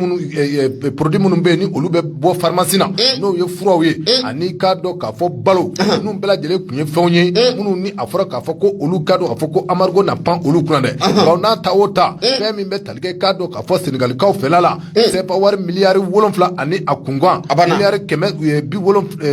[SPEAKER 2] produit minnu bɛ yen ni olu bɛ bɔ pharmacie na n'o ye furaw ye ani k'a dɔn k'a fɔ balo nin bɛɛ lajɛlen tun ye fɛnw ye minnu ni a fɔra k'a fɔ ko olu k'a dɔn k'a fɔ ko embargo na pan olu kunna dɛ nka n'a ta o ta fɛn min bɛ tali kɛ k'a dɔn k'a fɔ Senegalikaw fɛ la sɛfa wari miliyari wolonwula ani a kunkan a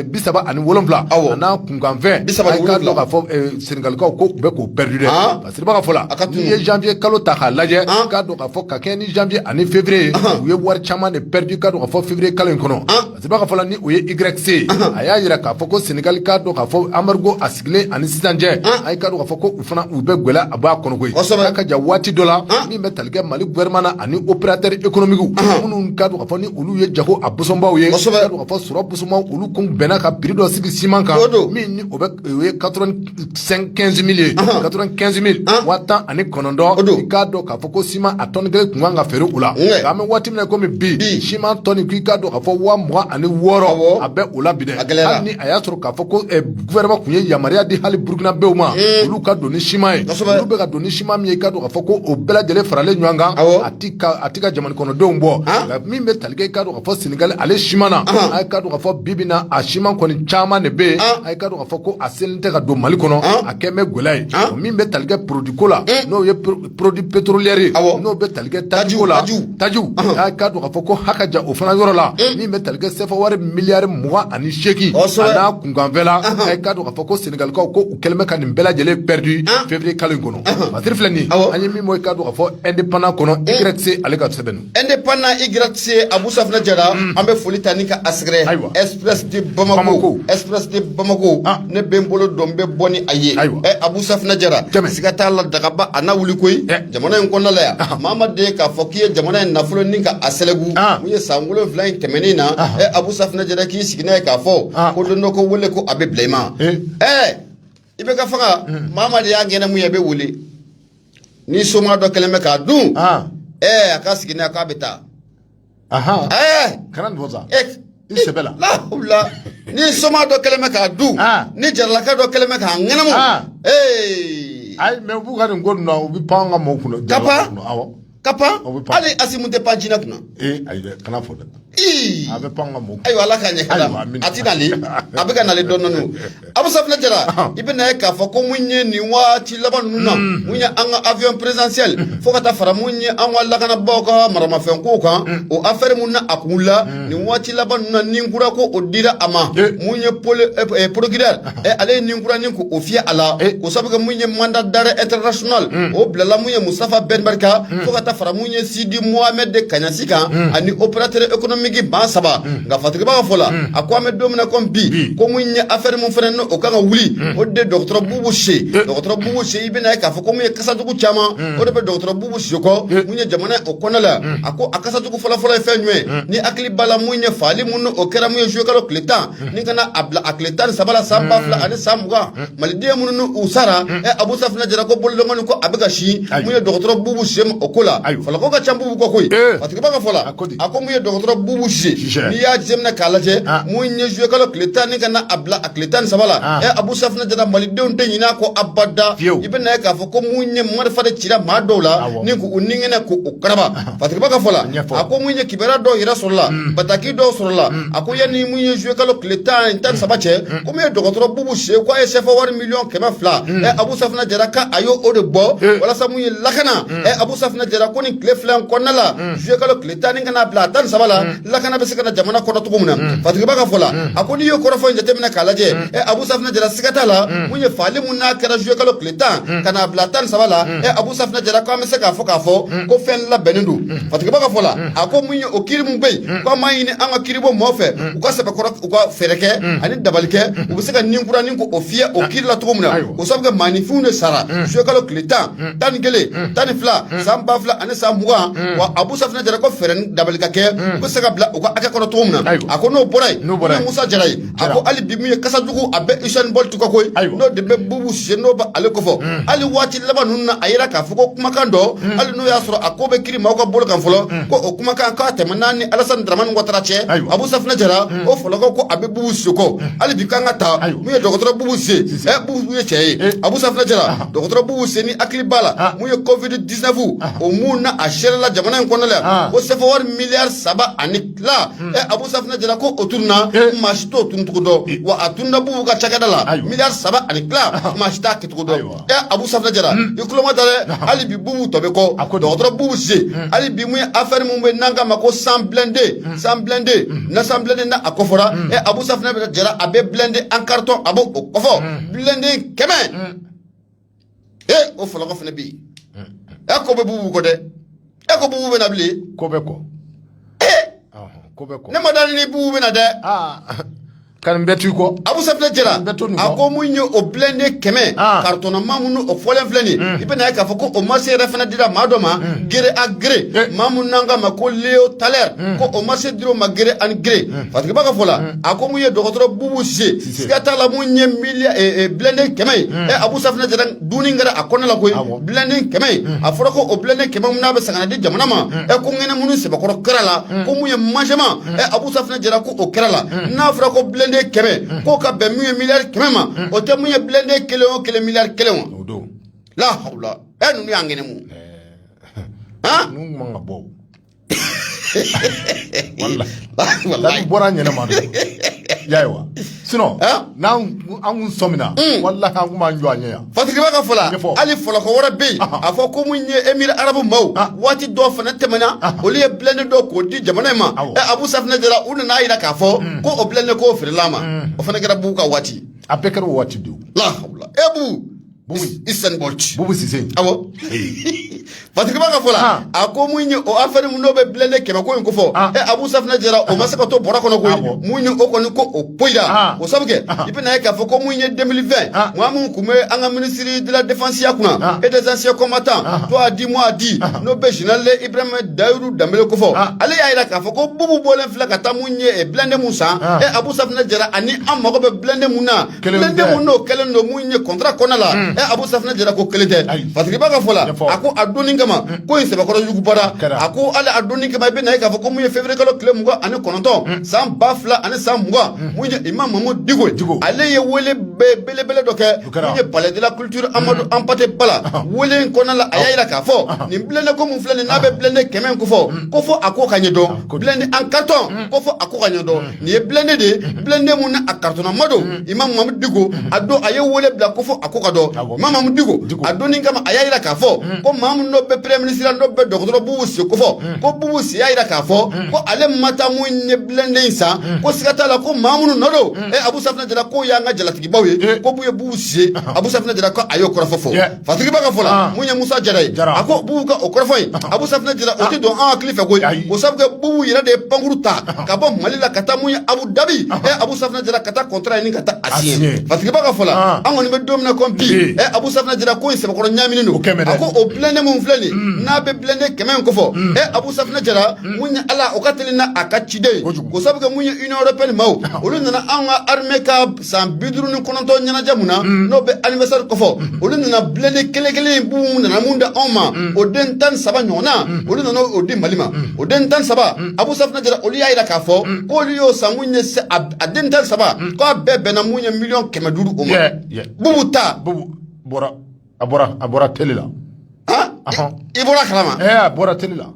[SPEAKER 2] bisaba ani wolonwula n'a kunkanfɛn a ye k'a dɔn k'a fɔ Senegalikaw ko u bɛ k'o pɛridi dɛ Parce que b'a fɔ la n'i ye janvier kalo ta k'a lajɛ k'a dɔn k'a fɔ ka kɛɲɛ ni janvier ani février u ye wari caman de pɛridi k'a dɔn k'a fɔ février kalo in kɔnɔ parce que b'a fɔ la ni o ye YC a y'a jira k'a fɔ ko Senegali k'a dɔn k'a fɔ embargo a sigilen ani sisan cɛ a ye k'a dɔn k'a fɔ ko u fana u bɛ gɛlɛyaba kɔnɔ koyi a ka jan waati dɔ la min bɛ tali kɛ Mali gouvernement na ani opérateur économique minnu k'a dɔn k'a fɔ ni olu ye jago a bosobaw ye k'a dɔn k'a fɔ sɔrɔ bosobaw olu kun bɛnna ka prix dɔ sigi siman kan min ni o ye quatre vingt-quinze mille quatre-vingt-quinze mille waa tan ani kɔnɔntɔn i k'a dɔn k'a fɔ ko siman a tɔni kelen tun kan ka feere o la an bɛ waati min na kɔmi bi siman tɔni k'i k'a dɔn k'a fɔ waa mugan ani wɔɔrɔ a bɛ o la bi dɛ hali ni a y'a sɔrɔ k'a fɔ ko gouvernement tun ye yamaruya di hali Burkinabew ma olu ka don ni siman ye u bɛ ka don ni siman min ye i k'a dɔn k'a fɔ ko o bɛɛ lajɛlen faralen ɲɔgɔn kan a tɛ ka jamana kɔnɔdenw bɔ min bɛ tali kɛ k'a dɔn k'a fɔ Senegali ale siman na a ye k'a dɔn k'a fɔ bi bi na a siman kɔni caman de bɛ A fɔ ko a selen tɛ ka don Mali kɔnɔ a kɛlen bɛ gɛlɛya ye min bɛ tali kɛ produit ko la n'o ye produit pétrolière ye n'o bɛ tali kɛ tajiw la tajiw a k'a dɔn k'a fɔ ko a ka jan o fana yɔrɔ la min bɛ tali kɛ sɛfa wari miliyari mugan ani seegin n'a kunkanfɛn na a ye k'a dɔn k'a fɔ ko Senegalikaw ko u kɛlen bɛ ka nin bɛɛ lajɛlen pɛridi février kalo in kɔnɔ wa titre filɛ nin an ye min bɔ i k'a dɔn k'a fɔ Indépendant kɔnɔ YC ale ka sɛbɛn Indépendant i
[SPEAKER 1] g se abu safinɛ jara an bɛ foli ta ni ka a sɛgɛrɛ ayiwa express de bamakɔ express de bamakɔ ne bɛ n bolo don bɛ bɔ ni a ye ayiwa abu safinɛ jara siga t'a la dagaba a na wuli koyi jamana in kɔnɔnala yan maa ma de k'a fɔ k'i ye jamana in nafolo ni ka a sɛlɛgu mun ye san wolonwula in tɛmɛnen na abu safinɛ jara k'i sigi n'a ye k'a fɔ ko don dɔ ko wele ko a bɛ bila i ma ɛɛ i bɛ ka faga maa ma de y'a gɛnɛ mun ye a bɛ wele ni soma dɔ kɛlen bɛ k'a dun ɛɛ a ka sigi n'a k'a bɛ taa
[SPEAKER 2] ɛɛ kana
[SPEAKER 1] nin fɔ
[SPEAKER 2] sa i sɛbɛ la lahawula
[SPEAKER 1] ni soma dɔ kɛlen bɛ k'a dun ni jaralaka dɔ kɛlen bɛ k'a ŋɛnɛmu ee
[SPEAKER 2] ayi mais u b'u ka nin ko ninnu na u bɛ pan an ka mɔgɔw kunna ka pan awɔ
[SPEAKER 1] ka pan hali asimu tɛ pan jinɛ kunna ee ayi dɛ kana
[SPEAKER 2] fɔ dɛ ee a bɛ pan an ka mɔgɔw ayiwa ala k'a ɲɛ
[SPEAKER 1] kala a ti nali a bɛ ka nali dɔn dɔn abu safinɛ jara i bɛ na ye k'a fɔ ko mun ye nin waati laban ninnu na mun ye an ka avion présidentiel fo ka taa fara mun ye an ka lakanabaaw ka maramafɛn ko kan o affaire mun na a kun la nin waati laban ninnu na ni kura ko o dira a ma mun ye procureur ɛ ale ye ni kura nin ko o fiyɛ a la o sabu kɛ mun ye mandat d'arrêt international o bilala mun ye mustafa bɛn barka fo ka taa fara mun ye sidi mohamɛd de kaɲasi kan ani opérateur économique ban saba nka fatigiba ka fɔ la a ko an bɛ don min na comme bi ko mun ye affaire mun fana n'o kan ka wuli o de dɔgɔtɔrɔ bubu sise dɔgɔtɔrɔ bubu sise i bɛna ye k'a fɔ ko mun ye kasajugu caman o de bɛ dɔgɔtɔrɔ bubu sise kɔ mun ye jamana o kɔnɔ la a ko a kasajugu fɔlɔfɔlɔ ye fɛn jumɛn ni hakili b'a la mun ye fagali mun n'o kɛra mun ye juillet kalo tile tan ni kana a bila a tile tan ni saba la san ba fila ani san mugan maliden minnu n'u u sara ɛ abu safinɛ jara ko bolodɔngɔni ko a bɛ ka sin Ayi. mun ye dɔgɔtɔrɔ bubu sise ma o ko la Ayi. falako ka ca bubu kɔ koyi Eh. fatigiba ka fɔ la A ko di. a ko mun ye dɔgɔtɔrɔ bubu sise n'i y'a jateminɛ k'a lajɛ Ah. mun ye zuye kalo tile tan ni kana a bila a tile tan ni saba la Ah. ɛ abu safinɛ jara malidenw tɛ ɲinɛ a kɔ abada Fiyewu. i bɛ na ye k'a fɔ ko mun ye marifa de cira maa dɔw la Awɔ. ni k'u u ni kɛnɛ k'u u karaba Fatigiba ka fɔ la a ko mun ye kibaru dɔw yɛrɛ sɔrɔla bataki dɔw sɔrɔla a ko yanni mun ye zuye kalo tile tan ni tan saba cɛ ko mun ye dɔgɔtɔrɔ bubu sise k' a ye sɛfa wari miliyɔn kɛmɛ fila abu safinɛ jara k' a y'o de bɔ walasa mun ye lakana abu safinɛ jara ko nin tile fila kɔnɔna la zuye kalo tile tan ni kana bila a tan ni saba la Lakana bɛ se ka na jamana kɔnɔ cogo min na fatigiba ka fɔ la a ko n'i ye kɔrɔfɔ in jateminɛ k'a lajɛ ɛ abu safinɛ jara siga t'a la mun ye faali min n'a kɛra zuye kalo tile tan ka n'a bila tan ni saba la ɛ abu safinɛ jara k' an bɛ se k'a fɔ k'a fɔ ko fɛn labɛnnen don fatigiba ka fɔ la a ko mun ye o kiri min bɛ yen ko an b'a ɲini an ka kiribɔ mɔgɔw fɛ u ka sɛbɛkɔrɔ u ka fɛɛrɛ kɛ ani dabali kɛ u bɛ se ka ni kura nin ko o fiyɛ o kiri la cogo min na o sabu kɛ maaninfinw de sara zuye kalo tile tan tan ni kelen tan ni fila san ba fila ani san mugan wa abu safinɛ jara ko fɛɛrɛ ni dabali ka kɛ u bɛ se ka bila u ka hakɛ kɔnɔ cogo min na a ko n'o bɔra yen musa jara ye a ko hali bi min ye kasa jugu a bɛ usain bolt kɔ koyi n'o de bɛ bubu sise n'o bɛ ale kɔfɔ hali waati laban ninnu na a yira k'a fɔ ko kumakan dɔ hali n'o y'a sɔrɔ a ko bɛ kiri maaw ka bolo kan fɔlɔ ko o kumakan k'a tɛmɛn'a ni alasani daramani watara cɛ abu safinɛ jara o fɔlɔkɔ ko a bɛ bubu sise kɔ hali bi kan ka ta min ye dɔgɔtɔrɔ bubu sise ɛ bubu ye cɛ ye abu safinɛ jara dɔgɔtɔrɔ bubu sise ni hakili b'a la ah. mun ye covid 19 ah. o mun na a sɛrɛla jamana in kɔnɔna la ah. ko sɛfɛwari miliyari saba ani tila ɛ hmm. eh, abu safinɛ jara ko o tununna eh. maa si t'o tununcogo dɔn eh. wa a tununna bubu ka cakɛda la miliyari saba ani tila maa si t'a kɛcogo dɔn ɛ abu safinɛ jara hmm. i tulo ma ta dɛ hali bi bubu tɔ bɛ kɔ dɔgɔtɔrɔ bubu sise hmm. hali bi mun ye afɛri mun bɛ n'an k'a ma ko cent blindés cent blindés na cent blindés na a kɔfɔra ɛ abu safinɛ jara a bɛ blindé en carton a b'o o kɔfɔ blindé kɛmɛ e o fɔlɔkɔ fana bɛ yen e ko bɛ bubu kɔ dɛ e ko bubu bɛna bilen ko bɛ
[SPEAKER 2] kɔ ko bɛ
[SPEAKER 1] kɔ ne ma d'a la ni bubu bɛna dɛ ka nin bɛɛ to
[SPEAKER 2] i kɔ abu safinɛ jara
[SPEAKER 1] a ko mun ye o blindé kɛmɛ karitɔnnama minnu o fɔlen filɛ nin i bɛna ye k'a fɔ ko o marché yɛrɛ fana dira maa dɔ ma gré à gré maa mun n'an k'a ma ko leo talɛr ko o marché dira o ma gré à gré fatigiba ka fɔ la a ko mun ye dɔgɔtɔrɔ bubu sise siga t'a la mun ye milia blindé kɛmɛ ye ɛ abu safinɛ jara dunni kɛra a kɔnɔ la koyi blindé kɛmɛ ye a fɔra ko o blindé kɛmɛ mun n'a bɛ san ka na di jamana ma ɛ ko ŋɛnɛ minnu sɛbɛkɔrɔ kɛra la ko mun ye mangement ɛ abu safinɛ jara ko o kɛra la n'a fɔra ko blindé kɛmɛ k'o ka bɛn mun ye miliyari kɛmɛ ma o tɛ mun ye blindé kelen o kelen miliyari kelen wa o don la hawula ɛ ninnu y'an ŋɛnɛ mun han
[SPEAKER 2] ninnu man ka bɔ walayi bɔra ɲɛnama don ayiwa sinɔn n'an an kun sɔmina mm. walayi an kun b'an jɔ a ɲɛ yan fatigiba ka fɔla
[SPEAKER 1] hali fɔlɔkɔ wɛrɛ bɛ yen a fɔ ko mun ye emiri arabu maaw ah. waati dɔ fana tɛmɛna ah. olu ye blindé dɔ k'o di jamana in ma ɛ abu safinɛ jara u nana a yira k'a fɔ mm. ko o blindé k'o feerela a ma mm. o fana kɛra bubu ka waati a bɛɛ kɛra o waati
[SPEAKER 2] de la hawula e bu
[SPEAKER 1] usain bolt bubu sise awɔ fatigiba ka fɔ la a ko mun ye o afɛri mun n'o bɛ blindé kɛmɛ ko in ko fɔ ɛ abu safinɛ jara o ma se ka to bɔrɔ kɔnɔ koyi mun ye o kɔni ko o poyira o sabu kɛ i bɛna ye k'a fɔ ko mun ye 2020 maa mun tun bɛ an ka minisiri de la défense ya kunna et des anciens combattants toi a dit moi a dit n'o bɛ général ibrahima dahiru danbele ko fɔ ale y'a yira k'a fɔ ko bubu bɔlen filɛ ka taa mun ye blindé mun san ɛ abu safinɛ jara ani an mago bɛ blindé mun na n'o kɛlen don mun ye contrat kɔnɔna la ɛ abu safinɛ jara ko kelen tɛ fatigiba ka fɔ la a ko a don in kama ko in sɛbɛkɔrɔ yugubara a ko ala a don in kama i bɛ na a ye k'a fɔ ko mun ye février kalo tile mugan ani kɔnɔntɔn san ba fila ani san mugan mun ye imam mamudu diko ale ye wele bɛɛ belebele dɔ kɛ mun ye palais de la culture amadu anpate ba la wele in kɔnɔna la a y'a jira k'a fɔ nin blindé ko mun filɛ nin n'a bɛ blindé kɛmɛ kofɔ ko fɔ a ko ka ɲɛ dɔn blindé en carton ko fɔ a ko ka ɲɛ dɔn Nin ye blindé de ye blindé min a carton ma don imam mamudu diko a don a ye wele bila ko fɔ a ko ka dɔn imam mamudu diko a don in kama a y'a jira k'a fɔ ko maa min n'o bɛ premier ministre n'o bɛ dɔgɔtɔrɔ bubu sise kofɔ ko bubu sise y'a jira k'a fɔ ko ale ma taa mun ye blindé in san ko siga t'a la ko maa minnu nɔ don ee abu safinɛ jara k'o y'an ka jalatigibaw ye ko ye bubu sise abu safinɛ jara ko a y'o kɔrɔfɔ fɔ Fatigiba ka fɔ la mun ye musa jara ye a ko bubu ka o kɔrɔfɔ in abu safinɛ jara o tɛ don an hakili fɛ ko sabu kɛ bubu yɛrɛ de ye pankurun ta ka bɔ mali la ka taa mun ye abu dabi abu safinɛ jara ka taa contrat nin ka taa a siɲe fatigiba ka fɔ la an kɔni bɛ don min na ko bi ɛ abu safinɛ jara ko in sɛbɛkɔrɔ ɲaaminen don a ko o blindé min filɛ nin n'a bɛ blindé kɛmɛ kofɔ e abu safinɛ jara mun ye ala o ka teli n' a ka ciden ye ko sabu kɛ mun ye union européenne maaw olu nana an ka armée ka san bi duuru ni kɔnɔntɔn ɲɛnajɛ mun na n'o bɛ anniversaire kofɔ olu nana blindé kelen kelen in bubu nana mun da anw ma o den tan ni saba ɲɔgɔnna olu nana o di mali ma o den tan ni saba abu safunɛ jara olu y'a yira k'a fɔ k'olu y'o san mun ye a den tan ni saba k'a bɛɛ bɛnna mun ye miliyɔn kɛmɛ duuru o ma bubu ta bubu bɔra
[SPEAKER 2] a bɔra a bɔra tele la
[SPEAKER 1] i bɔra a kalama a bɔra tele la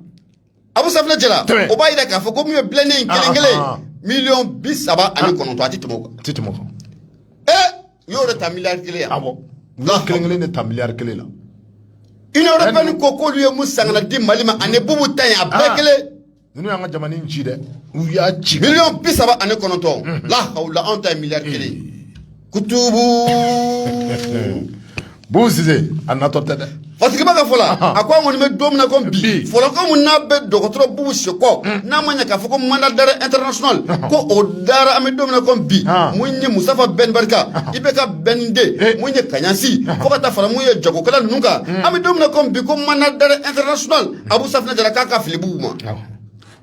[SPEAKER 2] Abu
[SPEAKER 1] Safinɛ Jara o b'a jira k'a fɔ ko mun ye blindé in kelen kelen miliyɔn bi saba ani kɔnɔntɔn a tɛ tɛmɛ o kan. A tɛ tɛmɛ o kan. Ee u y'o de ta miliyari kelen yan. Awɔ u y'o kelen kelen de
[SPEAKER 2] ta miliyari kelen la.
[SPEAKER 1] Union européenne ko k'olu ye mun san ka na di Mali ma ani bubu ta in a bɛɛ kelen. Ninnu y'an ka
[SPEAKER 2] jamana in ci dɛ u y'a ci. Miliyɔn bi saba ani
[SPEAKER 1] kɔnɔntɔn la hawula anw ta ye miliyari kelen ye.
[SPEAKER 2] kutubu bubu sise a natɔ tɛ dɛ fatigiba ka fɔ
[SPEAKER 1] la a ko an kɔni bɛ don min na ko bi fɔlɔ ko mun n'a bɛ dɔgɔtɔrɔ bubu sise kɔ n'a ma ɲɛ k'a fɔ ko mandat d'arrêt international ko o dara an bɛ don min na ko bi mun ye musafa bɛn barika IBK bɛn de mun ye kaɲasi fo ka taa fara mun ye jagokɛla ninnu kan an bɛ don min na ko bi ko mandat d'arrêt international abu safinɛ jara k'a ka fili bubu ma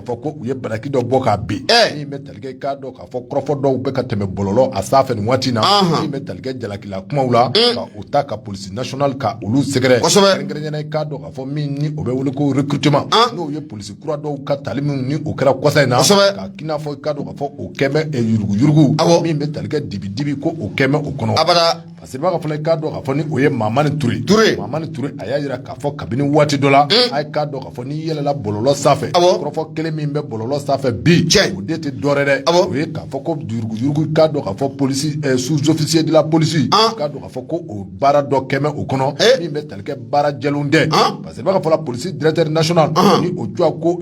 [SPEAKER 2] fɔ ko u ye bataki dɔ bɔ ka bin min bɛ tali kɛ k'a dɔn k'a fɔ kɔrɔfɔ dɔw bɛ ka tɛmɛ bɔlɔlɔ a sanfɛ nin waati na min bɛ tali kɛ jalakila kumaw la mm. ka u ta ka polisi national ka olu sɛgɛrɛ kɛrɛnkɛrɛnnenya la k'a dɔn k'a fɔ min ni o bɛ wele ko recrutement ah. n'o ye polisi kura dɔw ka tali minnu ni o kɛra kɔsa in na ka k'i n'a fɔ k'a dɔn k'a fɔ o kɛlen bɛ eh, yuruguyurugu min bɛ tali kɛ dibidibi ko o kɛlen bɛ o kɔnɔ Parce que b'a ka fɔ la k'a dɔn k'a fɔ ni o ye mamani ture mamani ture a y'a jira k'a fɔ kabini waati dɔ la a ye k'a dɔn k'a fɔ n'i yɛlɛla bɔlɔlɔ sanfɛ kɔrɔfɔ kelen min bɛ bɔlɔlɔ sanfɛ bi cɛ o de tɛ dɔwɛrɛ dɛ o ye k'a fɔ ko yuruguyurugu k'a dɔn k'a fɔ polisi sous-officier de la police k'a dɔn k'a fɔ ko o baara dɔ kɛmɛ o kɔnɔ min bɛ tali kɛ baara jɛlenw tɛ parce que b'a ka fɔ la polisi directeur national ni o tɔgɔ ko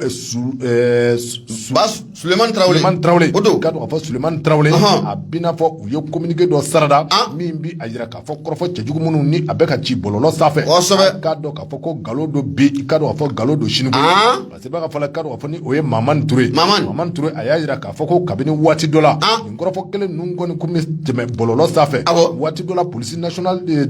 [SPEAKER 1] Sulemani tarawele k'a dɔn k'a fɔ
[SPEAKER 2] sulemani tarawele a b'i n'a fɔ u ye communiqué dɔ sarada min bɛ a jira k'a fɔ kɔrɔfɔ cɛjugu minnu ni a bɛ ka ci bɔlɔlɔ sanfɛ k'a dɔn k'a fɔ ko nkalon don bi i k'a dɔn k'a fɔ nkalon don sini parce que b'a ka fɔ la k'a dɔn k'a fɔ ni o ye mamani ture mamani ture a y'a jira k'a fɔ ko kabini waati dɔ la Kɔrɔfɔ kelen ninnu kɔni tun bɛ tɛmɛ bɔlɔlɔ sanfɛ waati dɔ la polisi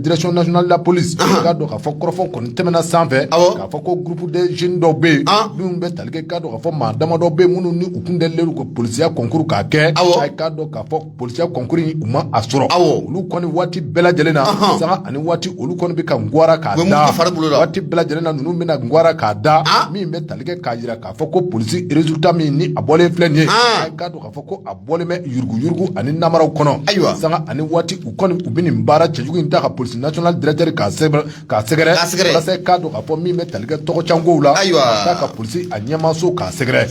[SPEAKER 2] direction nationale de la police k'a dɔn k'a fɔ kɔrɔfɔ kɔni tɛmɛna sanfɛ k'a fɔ ko groupe de jeunes dɔw bɛ yen minnu bɛ tali kɛ k'a dɔn k'a fɔ maa damadɔ bɛ yen minnu ni u kun deli ka polisiya kɔnkuru k'a kɛ aw k'a dɔn k'a fɔ polisiya kɔnkuru u ma a sɔrɔ aw olu kɔni waati bɛɛ lajɛlen na sanga ani waati olu kɔni bɛ ka gwa k'a waati bɛɛ lajɛlen na ninnu bɛna gwa k'a da min bɛ tali kɛ k'a jira k'a fɔ ko polisi résultat min ni a bɔlen filɛ nin ye A fɔ ko a bɔlen bɛ yuruguyurugu ani namaraw kɔnɔ ayiwa sanga ani waati u kɔni u bɛ nin baara cɛjugu in ta ka polisi national directeur k'a sɛgɛrɛ k'a dɔn k'a fɔ min bɛ tali kɛ tɔgɔcɛnkow la ayiwa k'a ta ka polisi a ɲɛmaso k'a sɛgɛrɛ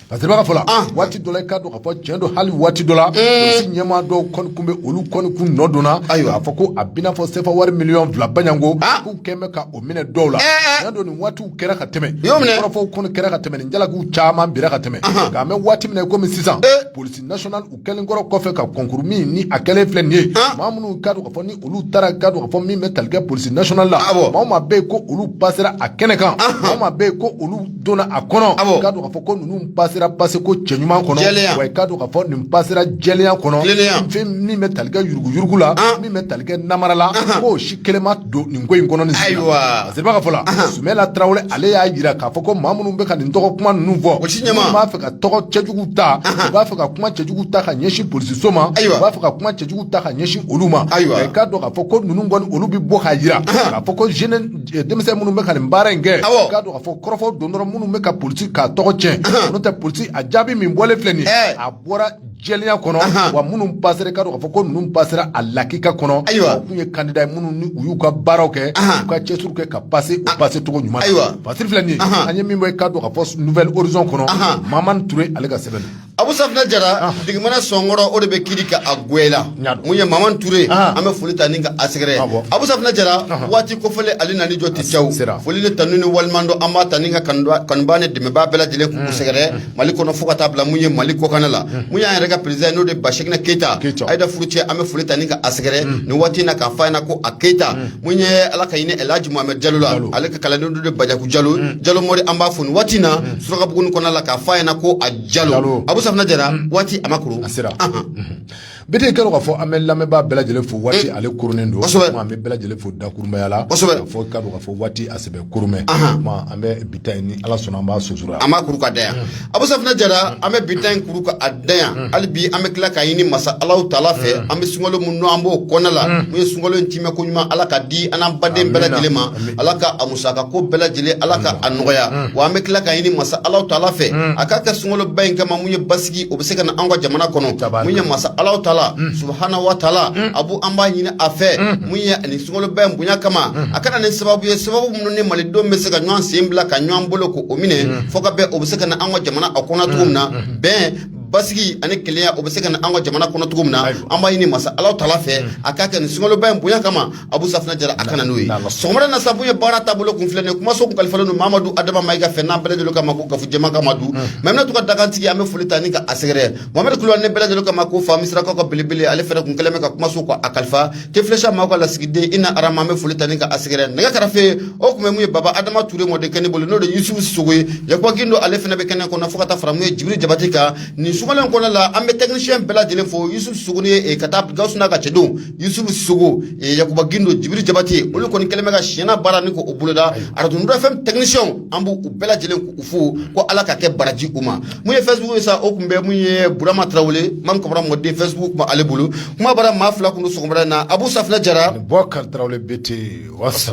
[SPEAKER 2] parce que b'a ka fɔ la waati dɔ la i k'a dɔn k'a fɔ cɛn don hali waati dɔ la ɲɛmaa dɔw kɔni kun bɛ olu kɔni kun nɔ donna ayiwa k'a fɔ ko a b'i n'a fɔ sefa wari miliyɔn fila ba ɲɔgɔn k'u kɛlen bɛ ka o minɛ dɔw la cɛn don nin waati kɛra ka tɛmɛ kɔrɔfɔw kɔni kɛra ka tɛmɛ nin jalakiw caman bira ka tɛmɛ nka mɛ waati min na komi sisan eh. polisi national u kɛlen kɔrɔ kɔfɛ ka kɔnkuru min ni a kɛlen filɛ nin ye maa minnu k'a dɔn k'a fɔ ni olu taara k'a dɔn k'a fɔ min bɛ tali kɛ polisi national la maa maa bɛ yen ko olu pasera a kɛnɛ kan maa maa bɛ yen ko olu donna a kɔnɔ k'a dɔn k'a fɔ ko ninnu pasera pase ko cɛɲuman kɔnɔ wa k'a dɔn k'a fɔ nin pasera jɛlenya kɔnɔ fɛn min bɛ tali kɛ yuruguyurugu la min bɛ tali kɛ namara la k'o si kelen ma don nin ko in kɔnɔ ayiwa parce que b'a ka fɔ la sumayila tarawele ale y'a jira k'a fɔ ko maa minnu bɛ ka nin tɔgɔ kuma ninnu fɔ minnu b'a fɛ ka tɔgɔ cɛjugu ta u b'a fɛ ka kuma cɛjugu ta ka ɲɛsin polisiso ma ayiwa b'a fɛ ka kuma cɛjugu ta ka ɲɛsin olu ma ayiwa i k'a dɔn k'a fɔ ko ninnu kɔni olu bɛ bɔ k'a jira k'a fɔ ko denmisɛn minnu bɛ ka nin baara in kɛ k'a dɔn k'a fɔ kɔrɔfɔ don dɔrɔn minnu bɛ ka polisi k'a tɔgɔ cɛn n'o tɛ polisi a jaabi min bɔlen filɛ nin a bɔra jɛlenya kɔnɔ Ahan. wa minnu pasera i k'a dɔn k'a fɔ ko ninnu pasera a lakika kɔnɔ Ayiwa. u kun ye kandida ye minnu ni u y'u ka baaraw kɛ Ahan. u ka cɛsiriw kɛ ka pase u pase cogo ɲuman na. Ayiwa. pasiri filɛ nin ye Ahan. an ye min bɔ i k'a dɔn k'a fɔ nouvel horizon kɔnɔ Ahan. mamani ture ale ka sɛbɛn don abu safina
[SPEAKER 1] jara digimana sɔnkɔrɔ o de bɛ kiri ka a gwɛla N y'a dɔn. mun ye mamani ture Ah. an bɛ foli ta ni ka a sɛgɛrɛ Awɔ. abu safina jara Ahan. waati kofɔlen ale nani jɔ ti cɛw sera. foli ni tanu ni waleɲumandɔn an b'a ta ni ka kanubaa- kanubaa ni dɛmɛbaa bɛɛ lajɛlen k'u sɛgɛrɛ Mali kɔnɔ fo ka taa bila mun ye Mali kɔkan na la, unhun, mun y'an yɛrɛ ka président ye n'o de ye Bachekina Keyita, Keyita, Ayida furucɛ an bɛ foli ta ni ka a sɛgɛrɛ nin waati in na k'a fɔ a ɲɛna ko a Keyita, unhun, mun ye Ala ka hinɛ El Hadji Mohamed Jalo la, Jalo, ale ka kalanden dɔ de ye Badiakou Jalo, un, Jalo Mori an b'a fo nin waati in na Surakabugu in kɔnɔna la k'a fɔ a ɲɛna ko a Jalo, Jalo, Abu Safinɛ Jara waati a ma koron, a sera, anhan
[SPEAKER 2] Bete k'a dɔn k'a fɔ an bɛ lamɛnbaa bɛɛ lajɛlen fo waati ale kurunnen don an bɛ bɛɛ lajɛlen fo dakurumaya la fɔ k'a dɔn k'a fɔ waati a sɛbɛ kurunnen bɛ an bɛ bi ta in ni ala sɔnna an b'a su an b'a kuru k'a da yan
[SPEAKER 1] abu safinɛ jara an bɛ bi ta in kuru k'a da yan hali bi an bɛ tila k'a ɲini masa ala taala fɛ an bɛ sunkalo mun n'an b'o kɔnɔna la mun ye sunkalo in tiimɛ ko ɲuman ala k'a di an n'an baden bɛɛ lajɛlen ma ala Saka ko bɛɛ lajɛlen ala ka a nɔgɔya wa an bɛ tila k'a ɲini masa ala taala fɛ a k'a kɛ sunkaloba in kama mun ye basigi o bɛ se ka na an ka jamana kɔnɔ mun ye masa ala taala subhana wa taala abu an b'a ɲini a fɛ mun ye ani sunkaloba in bonya kama a ka na ni sababu ye sababu minnu ni malidenw bɛ se ka ɲɔgɔn sen bila ka ɲɔgɔn bolo k'o minɛ fo ka bɛn o bɛ se ka na an ka jamana a kɔnɔ cogo min na bɛn basigi ani kelenya o bɛ se ka na an ka jamana kɔnɔ cogo min na an b'a ɲini masa ala taala fɛ a k'a kɛ nin sunkaloba in bonya kama abu safinɛ jara a ka na n'o ye sɔgɔmada na sa mun ye baara taabolo kun filɛ nin ye kumaso kun kalifalen don mamadu adama mayiga fɛ n'an bɛɛ lajɛlen kama ko gafu jɛma kama du mamina to ka dagantigi an bɛ foli ta ni ka a sɛgɛrɛ mamadu kulubali n'an bɛɛ lajɛlen kama ko fa misirakaw ka belebele ale fɛnɛ kun kɛlen bɛ ka kumaso ka a kalifa tefilɛsha maaw ka lasigiden i na arama an bɛ foli ta ni ka a sɛgɛrɛ nɛgɛ kɛrɛfɛ o kun bɛ mun ye baba adama ture mɔdenkɛ nin bolo n'o de yusufu sogo ye yakuba gindo ale fɛnɛ bɛ kɛnɛ kɔnɔ fo ka taa fara mun ye jibiri jabate kan nin sumalen kɔnɔ la an bɛ tɛkinisiyɛn bɛɛ lajɛlen fo yusufu sogo ni ye eh, ka taa gawusu n'a ka cɛdenw Yusufu sogo yakuba gindo jibiri jabate olu kɔni kɛlen bɛ ka si ɲɛna baara ni ko o boloda radio nord fm tɛkinisiyɛn an b'u bɛɛ lajɛlen k'u fo ko ala ka kɛ baraji u ma mun ye facebook ye sa o kun bɛ mun ye burama tarawele man kamara mɔden facebook kun b'ale bolo kuma bara maa fila kun don sɔgɔmada in na abu safinɛ jara bubakari bɛte wasa